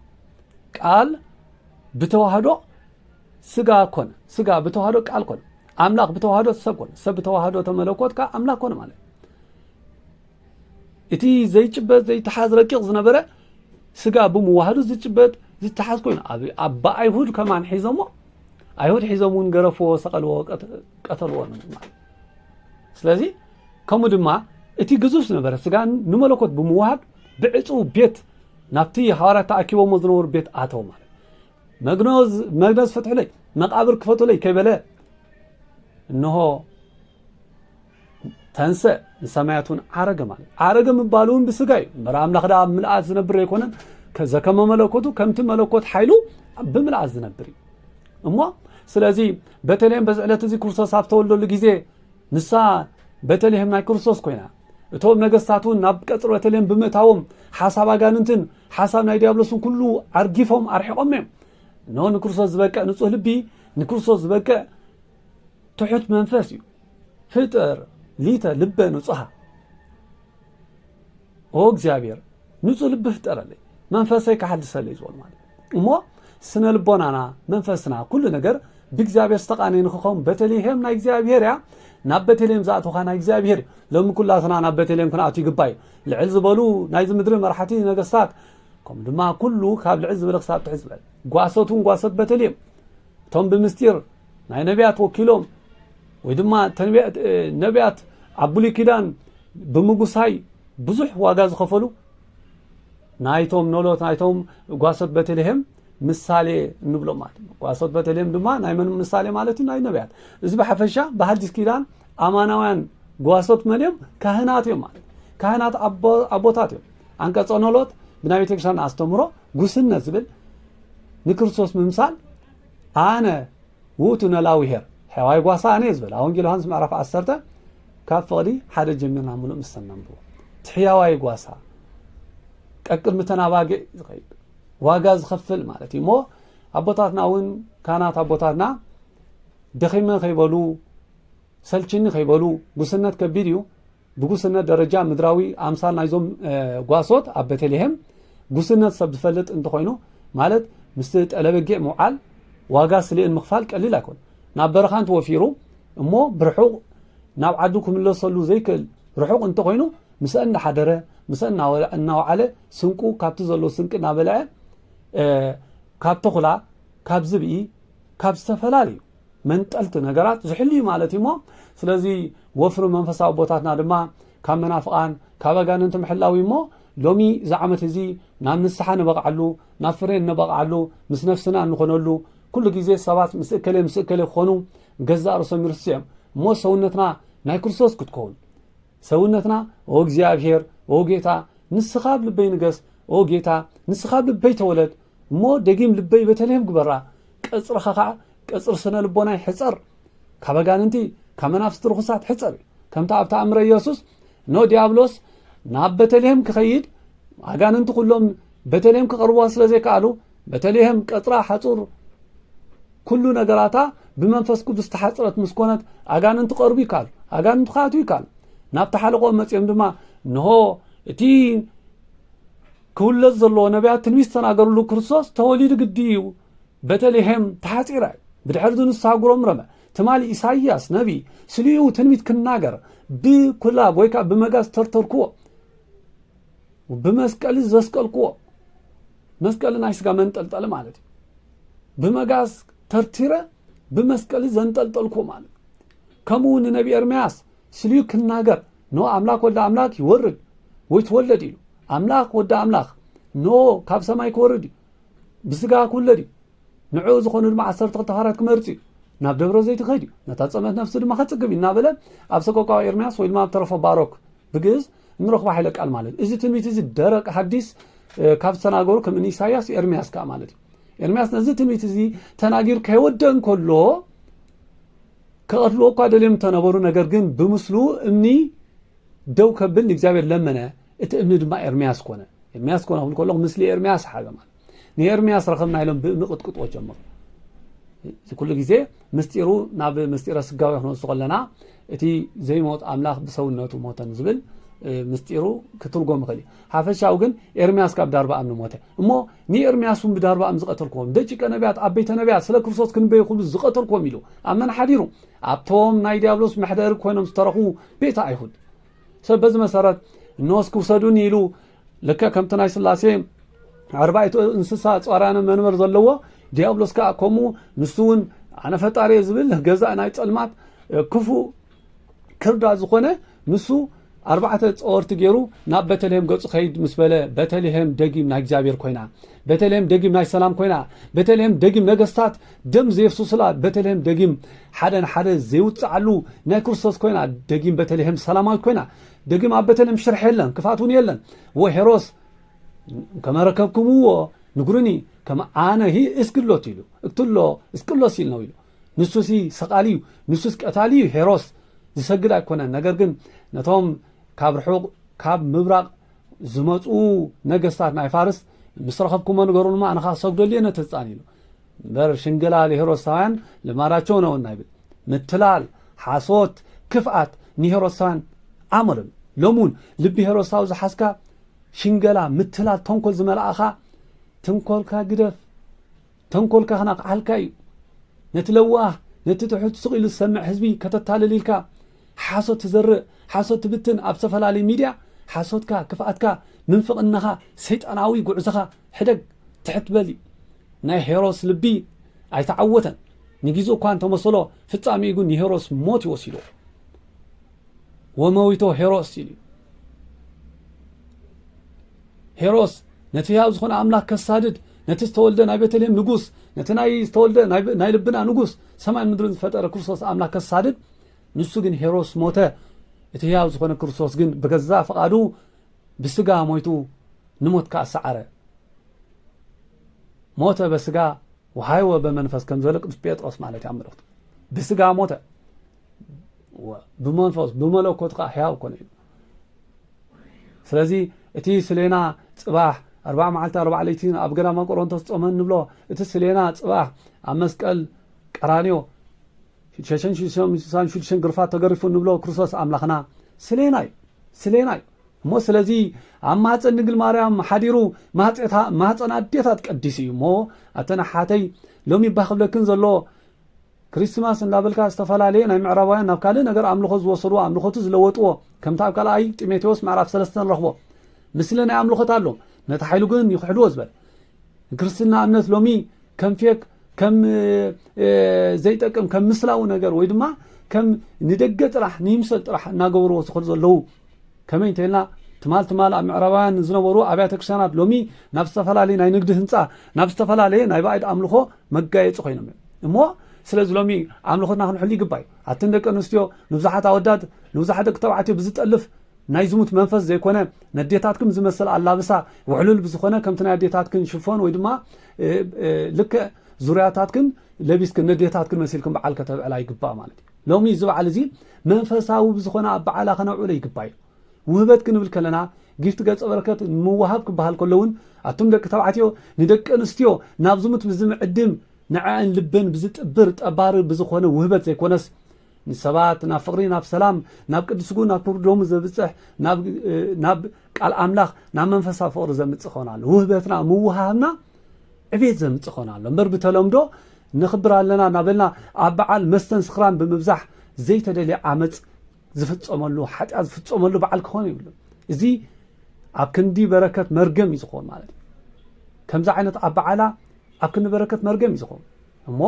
ቃል ብተዋህዶ ስጋ ኮነ ስጋ ብተዋህዶ ቃል ኮነ ኣምላኽ ብተዋህዶ ሰብ ኮነ ሰብ ብተዋህዶ ተመለኮት ከዓ ኣምላኽ ኮነ ማለት እቲ ዘይጭበጥ ዘይተሓዝ ረቂቕ ዝነበረ ስጋ ብምዋህዱ ዝጭበጥ ዝተሓዝ ኮይኑ ኣብ ኣይሁድ ከማን ሒዞሞ ኣይሁድ ሒዞም እውን ገረፍዎ ሰቐልዎ ቀተልዎ ማለት ስለዚ ከምኡ ድማ እቲ ግዙፍ ዝነበረ ስጋ ንመለኮት ብምዋሃድ ብዕፁው ቤት ናብቲ ሃዋርያት ተኣኪቦሞ ዝነበሩ ቤት ኣተው ማለት መግነዝ ፍትሑለይ መቃብር ክፈቱለይ ከይበለ እንሆ ተንሰእ ንሰማያት እውን ዓረገ ማለት ዓረገ ምባሉ እውን ብስጋ እዩ እምበር ኣምላኽ ደኣ ኣብ ምልኣት ዝነብር ኣይኮነን ዘከመ መለኮቱ ከምቲ መለኮት ሓይሉ ብምልኣት ዝነብር እዩ እሞ ስለዚ ቤተልሔም በዚ ዕለት እዚ ክርስቶስ ኣብ ተወልደሉ ግዜ ንሳ ቤተልሔም ናይ ክርስቶስ ኮይና እቶም ነገስታት እውን ናብ ቀፅሪ ቤተልሔም ብምእታዎም ሓሳብ ኣጋንንትን ሓሳብ ናይ ዲያብሎስን ኩሉ ኣርጊፎም ኣርሒቆም እዮም እነሆ ንክርስቶስ ዝበቅዕ ንፁህ ልቢ ንክርስቶስ ዝበቅዕ ትሑት መንፈስ እዩ ፍጥር ሊተ ልበ ንጹሃ ኦ እግዚኣብሔር ንጹህ ልቢ ፍጠረለይ መንፈሰይ ካሓድሰለይ ዝበሉ ማለት እሞ ስነ ልቦናና መንፈስና ኩሉ ነገር ብእግዚኣብሔር ዝተቃነየ ንክኸውን ቤተልሔም ናይ እግዚኣብሔር እያ ናብ ቤተልሔም ዝኣተውካ ናይ እግዚኣብሔር ሎሚ ኩላትና ናብ ቤተልሔም ክንኣቱ ይግባእ እዩ ልዕል ዝበሉ ናይዚ ምድሪ መራሕቲ ነገስታት ከምኡ ድማ ኩሉ ካብ ልዕል ዝበለ ክሳብ ትሕት ዝበለ ጓሶት እውን ጓሶት ቤተልሔም እቶም ብምስጢር ናይ ነቢያት ወኪሎም ወይ ድማ ነቢያት ኣብ ብሉይ ኪዳን ብምጉሳይ ብዙሕ ዋጋ ዝኸፈሉ ናይቶም ኖሎት ናይቶም ጓሶት ቤተልሄም ምሳሌ እንብሎም ማለት እዩ ጓሶት ቤተልሄም ድማ ናይ መን ምሳሌ ማለት እዩ ናይ ነቢያት እዚ ብሓፈሻ ብሓዲስ ኪዳን ኣማናውያን ጓሶት መን እዮም ካህናት እዮም ማለት ካህናት ኣቦታት እዮም ኣንቀጾ ኖሎት ብናይ ቤተ ክርስቲያን ኣስተምህሮ ጉስነት ዝብል ንክርስቶስ ምምሳል ኣነ ውእቱ ነላዊ ሄር ሕያዋይ ጓሳ ኣነ እየ ዝበል ኣብ ወንጌል ዮሃንስ ምዕራፍ ዓሰርተ ካብ ፍቕዲ ሓደ ጀሚርና ምሉእ ምስ ተነንብቦ እቲ ሕያዋይ ጓሳ ቀቅድሚ ተናባግዕ ዝኸይድ ዋጋ ዝኸፍል ማለት እዩ እሞ ኣቦታትና እውን ካህናት ኣቦታትና ደኺመ ከይበሉ ሰልችኒ ከይበሉ ጉስነት ከቢድ እዩ ብጉስነት ደረጃ ምድራዊ ኣምሳል ናይዞም ጓሶት ኣብ ቤተልሔም ጉስነት ሰብ ዝፈልጥ እንተኾይኑ ማለት ምስቲ ጠለበጊዕ ምውዓል ዋጋ ስሌን ምኽፋል ቀሊል ኣይኮን ናብ በረኻ እንተወፊሩ እሞ ብርሑቕ ናብ ዓዱ ክምለሰሉ ዘይክእል ርሑቕ እንተኾይኑ ምስአ እንዳሓደረ ምስአ እናወዓለ ስንቁ ካብቲ ዘሎ ስንቂ እናበልዐ ካብ ተኹላ ካብ ዝብኢ ካብ ዝተፈላለዩ መንጠልቲ ነገራት ዝሕሉ እዩ ማለት እዩ እሞ ስለዚ ወፍሪ መንፈሳዊ ቦታትና ድማ ካብ መናፍቓን ካብ ኣጋንንቲ ምሕላው እዩ እሞ ሎሚ እዚ ዓመት እዚ ናብ ንስሓ ንበቕዓሉ ናብ ፍሬ እንበቕዓሉ ምስ ነፍስና እንኾነሉ ኩሉ ግዜ ሰባት ምስ እከለ ምስ እከለ ክኾኑ ገዛእ ርእሶም ይርስዑ እዮም እሞ ሰውነትና ናይ ክርስቶስ ክትከውን ሰውነትና ኦ እግዚኣብሔር ኦ ጌታ ንስኻ ኣብ ልበይ ንገስ ኦ ጌታ ንስኻ ኣብ ልበይ ተወለድ እሞ ደጊም ልበይ ቤተልሔም ግበራ ቀጽርኻ ከዓ ቀጽሪ ስነ ልቦና ይሕጸር ካብ ኣጋንንቲ ካብ መናፍስቲ ርኹሳት ሕጸር እዩ ከምታ ኣብ ተኣምረ ኢየሱስ ኖ ዲያብሎስ ናብ ቤተልሔም ክኸይድ ኣጋንንቲ ኩሎም ቤተልሔም ክቐርብዋ ስለ ዘይከኣሉ በተልሄም ቀጽራ ሓጹር ኩሉ ነገራታ ብመንፈስ ቅዱስ ዝተሓጽረት ምስ ኮነት ኣጋንንቲ ቀርቡ ይከኣሉ ኣጋንንቲ ክኣትዉ ይከኣሉ ናብቲ ሓለቆም መጺኦም ድማ ንሆ እቲ ክውለድ ዘለዎ ነቢያት ትንቢት ዝተናገርሉ ክርስቶስ ተወሊዱ ግዲ እዩ በተልሄም ተሓፂራ እዩ ብድሕር እዚ ንሳ ጉረምረመ ትማሊ ኢሳይያስ ነቢ ስሊኡ ትንቢት ክናገር ብኩላብ ወይ ከዓ ብመጋዝ ተርተርክዎ ብመስቀል ዘስቀልክዎ መስቀሊ ናይ ስጋ መንጠልጠሊ ማለት እዩ ብመጋዝ ተርቲረ ብመስቀሊ ዘንጠልጠልኩ ማለት ከምኡ እውን ነቢ ኤርምያስ ስልዩ ክናገር ኖ ኣምላክ ወዲ ኣምላክ ይወርድ ወይ ትወለድ ኢሉ ኣምላክ ወዲ ኣምላክ ኖ ካብ ሰማይ ክወርድ እዩ ብስጋ ክውለድ እዩ ንዕኡ ዝኾኑ ድማ ዓሰርተ ክልተ ሃራት ክመርፅ እዩ ናብ ደብረ ዘይት ክኸድ እዩ ነታ ፀመት ነፍሲ ድማ ከፅግብ እዩ እናበለ ኣብ ሰቆቃዊ ኤርምያስ ወይ ድማ ኣብ ተረፎ ባሮክ ብግእዝ እንረኽቦ ሓይለ ቃል ማለት እዚ ትንቢት እዚ ደረቅ ሀዲስ ካብ ዝተናገሩ ከም እኒ ኢሳያስ ኤርሚያስ ከዓ ማለት እዩ ኤርሚያስ ነዚ ትንቢት እዚ ተናጊር ከይወደእ እንከሎ ከቐትልዎ እኳ ደልዮም እንተነበሩ ነገር ግን ብምስሉ እምኒ ደው ከብል ንእግዚኣብሔር ለመነ እቲ እምኒ ድማ ኤርሚያስ ኮነ ኤርሚያስ ኮነ ክብል ከለኹ ምስሊ ኤርሚያስ ሓበ ማለት ንኤርምያስ ረኸብና ኢሎም ብምቕጥቅጦ ጀመሩ እዚ ኩሉ ግዜ ምስጢሩ ናብ ምስጢረ ስጋዊ ክንወስዱ ከለና እቲ ዘይሞት ኣምላኽ ብሰውነቱ ሞተን ዝብል ምስጢሩ ክትርጎም ይኽእል እዩ ሓፈሻዊ ግን ኤርምያስ ካብ ዳርባ እምኒ ሞተ እሞ ንኤርምያስ እውን ብዳርባ እም ዝቐተልክዎም ደቂቀ ነቢያት ኣብ ቤተ ነቢያት ስለ ክርስቶስ ክንበይ ክብሉ ዝቐተልክዎም ኢሉ ኣብ መን ሓዲሩ ኣብቶም ናይ ዲያብሎስ መሕደሪ ኮይኖም ዝተረኽቡ ቤተ ኣይሁድ ሰብ በዚ መሰረት እነወስ ክውሰዱኒ ኢሉ ልክዕ ከምቲ ናይ ስላሴ ኣርባዕቱ እንስሳ ጻራነ መንበር ዘለዎ ዲያብሎስ ከዓ ከምኡ ንሱ እውን ኣነ ፈጣሪ ዝብል ገዛእ ናይ ፀልማት ክፉ ክርዳ ዝኾነ ንሱ ኣርባዕተ ፀወርቲ ገይሩ ናብ ቤተልሔም ገፁ ከይድ ምስ በለ ቤተልሔም ደጊም ናይ እግዚኣብሔር ኮይና ቤተልሔም ደጊም ናይ ሰላም ኮይና ቤተልሔም ደጊም ነገስታት ደም ዘየፍስሱላ ቤተልሔም ደጊም ሓደ ንሓደ ዘይውፅዓሉ ናይ ክርስቶስ ኮይና ደጊም ቤተልሔም ሰላማዊት ኮይና ደጊም ኣብ በተልሔም ሽርሒ የለን፣ ክፍኣት እውን የለን። እወ ሄሮስ ከመ ረከብክምዎ ንግሩኒ ከመ ኣነ ሂ እስክሎት ኢሉ እክትሎ እስቅሎስ ኢል ነው ኢሉ ንሱሲ ሰቓሊ እዩ ንሱስ ቀታሊ እዩ ሄሮስ ዝሰግድ ኣይኮነን ነገር ግን ነቶም ካብ ርሑቕ ካብ ምብራቕ ዝመፁ ነገስታት ናይ ፋርስ ምስ ረኸብኩሞ ንገሩንማ ኣነ ከዓ ክሰግደሉ እየ ነቲ ህፃን ኢሉ እምበር ሽንግላ ሄሮድሳውያን ልማዳቸው ነውና ይብል ምትላል ሓሶት ክፍኣት ንሄሮድሳውያን ኣምርም ሎሚ እውን ልቢ ሄሮድሳዊ ዝሓዝካ ሽንገላ ምትላል ተንኮል ዝመልእኻ ተንኮልካ ግደፍ ተንኮልካ ክናቕዓልካ እዩ ነቲ ለዋህ ነቲ ትሑት ስቕ ኢሉ ዝሰምዕ ህዝቢ ከተታልል ኢልካ ሓሶት ትዘርእ ሓሶት ትብትን ኣብ ዝተፈላለዩ ሚድያ ሓሶትካ ክፍኣትካ ምንፍቕናኻ ሰይጣናዊ ጉዕዞኻ ሕደግ ትሕት በሊ ናይ ሄሮስ ልቢ ኣይተዓወተን ንጊዙ እኳ እንተመሰሎ ፍጻሜኡ ግን ንሄሮስ ሞት ይወሲዶ ወመዊቶ ሄሮስ ይሉ ሄሮስ ነቲ ህያው ዝኾነ ኣምላክ ከሳድድ ነቲ ዝተወልደ ናይ ቤተልሔም ንጉስ ነቲ ናይ ዝተወልደ ናይ ልብና ንጉስ ሰማይን ምድርን ዝፈጠረ ክርስቶስ ኣምላክ ከሳድድ ንሱ ግን ሄሮስ ሞተ እቲ ህያው ዝኾነ ክርስቶስ ግን ብገዛ ፍቓዱ ብስጋ ሞይቱ ንሞት ከኣ ሰዓረ። ሞተ በስጋ ወሃይወ በመንፈስ ከም ዝበለ ቅዱስ ጴጥሮስ ማለት እዩ ኣብ መልእኽቱ ብስጋ ሞተ ብመንፈስ ብመለኮት ከዓ ሕያው ኮነ እዩ ስለዚ እቲ ስሌና ጽባሕ ኣርባዕ መዓልቲ ኣርባዕ ለይቲ ኣብ ገዳማ ቆሮንቶስ ጾመ ንብሎ እቲ ስሌና ጽባሕ ኣብ መስቀል ቀራንዮ ሸሸን ሽዱሽተን ስሳን ሽዱሽተን ግርፋት ተገሪፉ እንብሎ ክርስቶስ ኣምላኽና ስሌና እዩ ስሌና እዩ እሞ ስለዚ ኣብ ማህፀን ድንግል ማርያም ሓዲሩ ማህፀን ኣዴታት ቀዲሱ እዩ እሞ ኣተን ሓተይ ሎሚ እባ ክብለክን ዘሎ ክሪስትማስ እንዳበልካ ዝተፈላለየ ናይ ምዕራባውያን ናብ ካልእ ነገር ኣምልኾ ዝወሰድዎ ኣምልኾቱ ዝለወጥዎ ከምቲ ኣብ ካልኣይ ጢሞቴዎስ ምዕራፍ ሰለስተ ንረኽቦ ምስሊ ናይ ኣምልኾት ኣሎ ነቲ ሓይሉ ግን ይኽሕድዎ ዝበለ ክርስትና እምነት ሎሚ ከም ፌክ ከም ዘይጠቅም ከም ምስላዊ ነገር ወይ ድማ ከም ንደገ ጥራሕ ንይምሰል ጥራሕ እናገበርዎ ዝኸዱ ዘለዉ ከመይ እንተኢልና ትማል ትማል ኣብ ምዕራባውያን ዝነበሩ ኣብያተ ክርስቲያናት ሎሚ ናብ ዝተፈላለየ ናይ ንግዲ ህንፃ ናብ ዝተፈላለየ ናይ ባዕድ ኣምልኾ መጋየፂ ኮይኖም እዮም እሞ ስለዚ ሎሚ ኣምልኾትና ክንሕሉ ይግባ እዩ ኣትን ደቂ ኣንስትዮ ንብዙሓት ኣወዳት ንብዙሓት ደቂ ተባዕትዮ ብዝጠልፍ ናይ ዝሙት መንፈስ ዘይኮነ ነዴታትክም ዝመስል ኣላብሳ ውሕሉል ብዝኾነ ከምቲ ናይ ኣዴታትክን ሽፎን ወይ ድማ ልክዕ ዙርያታትክን ለቢስክን ነዴታትክን መሲልክን በዓል ከተብዕላ ይግባእ ማለት እዩ ሎሚ እዚ በዓል እዚ መንፈሳዊ ብዝኾነ ኣብ በዓላ ከነብዕሎ ይግባ እዩ ውህበት ክንብል ከለና ጊፍት ገጸ በረከት ምውሃብ ክበሃል ከሎ እውን ኣቱም ደቂ ተባዕትዮ ንደቂ ኣንስትዮ ናብ ዝሙት ብዝምዕድም ንዐአን ልበን ብዝጥብር ጠባሪ ብዝኾነ ውህበት ዘይኮነስ ንሰባት ናብ ፍቕሪ ናብ ሰላም ናብ ቅድስጉ ናብ ክብሪ ደሙ ዘብፅሕ ናብ ቃል ኣምላኽ ናብ መንፈሳዊ ፍቕሪ ዘምጽእ ክኾን ኣሎ ውህበትና ምውሃህብና ዕቤት ዘምጽእ ክኾን ኣሎ እምበር ብተለምዶ ንኽብር ኣለና እናበልና ኣብ በዓል መስተን ስኽራን ብምብዛሕ ዘይተደልየ ዓመፅ ዝፍፀመሉ ሓጢኣት ዝፍፀመሉ በዓል ክኾን ይብሉ እዚ ኣብ ክንዲ በረከት መርገም እዩ ዝኸውን ማለት እዩ ከምዚ ዓይነት ኣብ በዓላ ኣብ ክንዲ በረከት መርገም እዩ ዝኸውን እሞ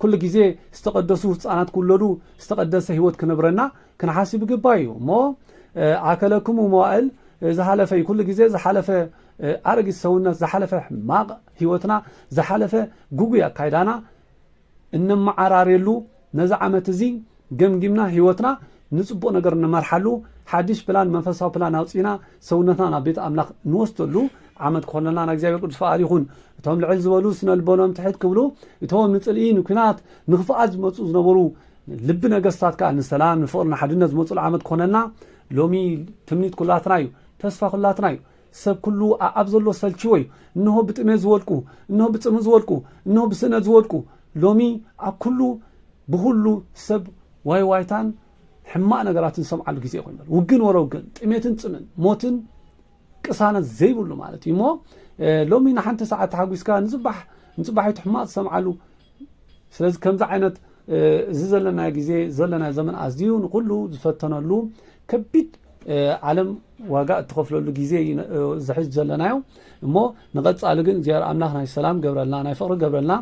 ኩሉ ግዜ ዝተቀደሱ ህፃናት ክውለዱ ዝተቀደሰ ህይወት ክነብረና ክንሓስብ ይግባእ እዩ እሞ ኣከለክሙ መዋእል ዝሃለፈ እዩ ኩሉ ግዜ ዝሓለፈ ኣረጊት ሰውነት ዝሓለፈ ሕማቕ ህይወትና ዝሓለፈ ጉጉይ ኣካይዳና እነመዓራርየሉ ነዚ ዓመት እዚ ገምጊምና ህይወትና ንጽቡቕ ነገር እንመርሓሉ ሓድሽ ፕላን መንፈሳዊ ፕላን ኣውጺእና ሰውነትና ናብ ቤት ኣምላኽ ንወስደሉ ዓመት ክኾነልና ናይ እግዚኣብሔር ቅዱስ ፍቓድ ይኹን እቶም ልዕል ዝበሉ ስነልቦኖም ትሕት ክብሉ እቶም ንጽልኢ ንኲናት ንኽፍኣት ዝመጹ ዝነበሩ ልቢ ነገስታት ከኣ ንሰላም ንፍቅሪ ንሓድነት ዝመጽሉ ዓመት ክኾነልና ሎሚ ትምኒት ኩላትና እዩ ተስፋ ኩላትና እዩ ሰብ ኩሉ ኣኣብ ዘሎ ሰልቺዎ እዩ እንሆ ብጥሜት ዝወድቁ እንሆ ብጽምእ ዝወድቁ እንሆ ብስእነት ዝወድቁ ሎሚ ኣብ ኩሉ ብኩሉ ሰብ ዋይ ዋይታን ሕማቅ ነገራትን ዝሰምዓሉ ግዜ ኮይኑ ውግን ወረ ውግን ጥሜትን ጽምን ሞትን ቅሳነት ዘይብሉ ማለት እዩ እሞ ሎሚ ንሓንቲ ሰዓት ተሓጒስካ ንፅባሕ ንፅባሒቱ ሕማቕ ዝሰምዓሉ ስለዚ ከምዚ ዓይነት እዚ ዘለና ግዜ ዘለና ዘመን ኣዝዩ ንኩሉ ዝፈተነሉ ከቢድ ዓለም ዋጋ እትኸፍለሉ ግዜ ዝሕዝ ዘለናዮ እሞ ንቐፃሊ ግን እግዚኣብሔር ኣምላኽ ናይ ሰላም ገብረልና ናይ ፍቕሪ ገብረልና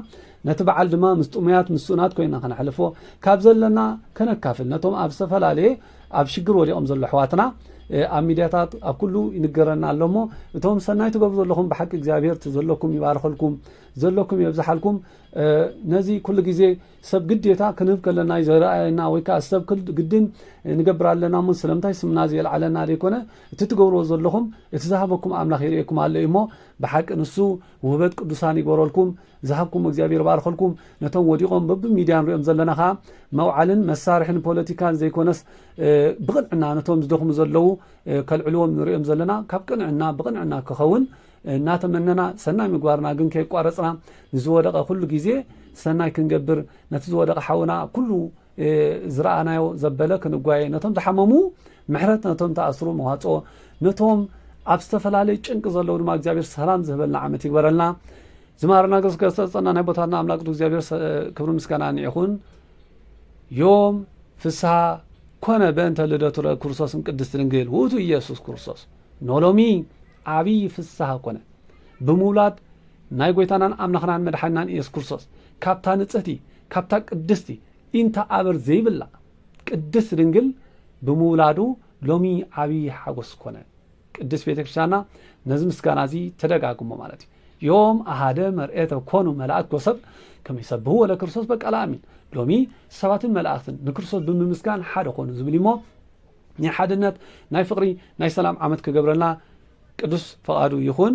ነቲ በዓል ድማ ምስ ጥሙያት ምስ ስኡናት ኮይና ከነሕልፎ ካብ ዘለና ከነካፍል ነቶም ኣብ ዝተፈላለየ ኣብ ሽግር ወዲቆም ዘሎ ኣሕዋትና ኣብ ሚድያታት ኣብ ኩሉ ይንገረና ኣሎ እሞ እቶም ሰናይ ትገብሩ ዘለኹም ብሓቂ እግዚኣብሄር እቲ ዘለኩም ይባርኸልኩም ዘለኩም የብዝሓልኩም ነዚ ኩሉ ግዜ ሰብ ግዴታ ክንህብ ከለና እዩ ዘረኣየና ወይ ከዓ ሰብ ግድን ንገብር ኣለና እሞ ስለምንታይ ስምና ዘየልዓለና ዘይኮነ እቲ ትገብርዎ ዘለኹም እቲ ዝሃበኩም ኣምላኽ ይርእየኩም ኣሎ እዩ እሞ ብሓቂ ንሱ ውህበት ቅዱሳን ይግበረልኩም ዝሃብኩም እግዚኣብሔር ይባርኸልኩም ነቶም ወዲቖም በቢ ሚድያ ንሪኦም ዘለና ከኣ መውዓልን መሳርሕን ፖለቲካን ዘይኮነስ ብቕንዕና ነቶም ዝደኽሙ ዘለዉ ከልዕልዎም ንሪኦም ዘለና ካብ ቅንዕና ብቕንዕና ክኸውን እናተመነና ሰናይ ምግባርና ግን ከየቋረፅና ንዝወደቐ ኩሉ ግዜ ሰናይ ክንገብር ነቲ ዝወደቐ ሓውና ኩሉ ዝረኣናዮ ዘበለ ክንጓየ ነቶም ዝሓመሙ ምሕረት ነቶም ተኣስሩ መዋፅኦ ነቶም ኣብ ዝተፈላለዩ ጭንቂ ዘለዉ ድማ እግዚኣብሔር ሰላም ዝህበልና ዓመት ይግበረልና ዝማረና ገስገስ ተፀና ናይ ቦታትና ኣምላክ ቅዱስ እግዚኣብሔር ክብሪ ምስጋና ይኹን ዮም ፍስሃ ኮነ በእንተ ልደቱ ክርስቶስን ቅድስት ድንግል ውእቱ ኢየሱስ ክርስቶስ ኖሎሚ ዓብዪ ፍስሃ ኮነ ብምውላድ ናይ ጎይታናን ኣምላኽናን መድሓናን ኢየሱስ ክርስቶስ ካብታ ንፅህቲ ካብታ ቅድስቲ ኢንታ ኣበር ዘይብላ ቅድስት ድንግል ብምውላዱ ሎሚ ዓቢ ሓጎስ ኮነ። ቅድስት ቤተ ክርስቲያንና ነዚ ምስጋና እዚ ተደጋግሞ ማለት እዩ። ዮም ኣሃደ መርኤተ ኮኑ መላእክት ወሰብ ከመ ይሰብህዎ ለክርስቶስ በቃለ ኣሚን ሎሚ ሰባትን መላእክትን ንክርስቶስ ብምምስጋን ሓደ ኮኑ ዝብል እሞ ናይ ሓድነት ናይ ፍቅሪ ናይ ሰላም ዓመት ክገብረልና ቅዱስ ፈቃዱ ይኹን።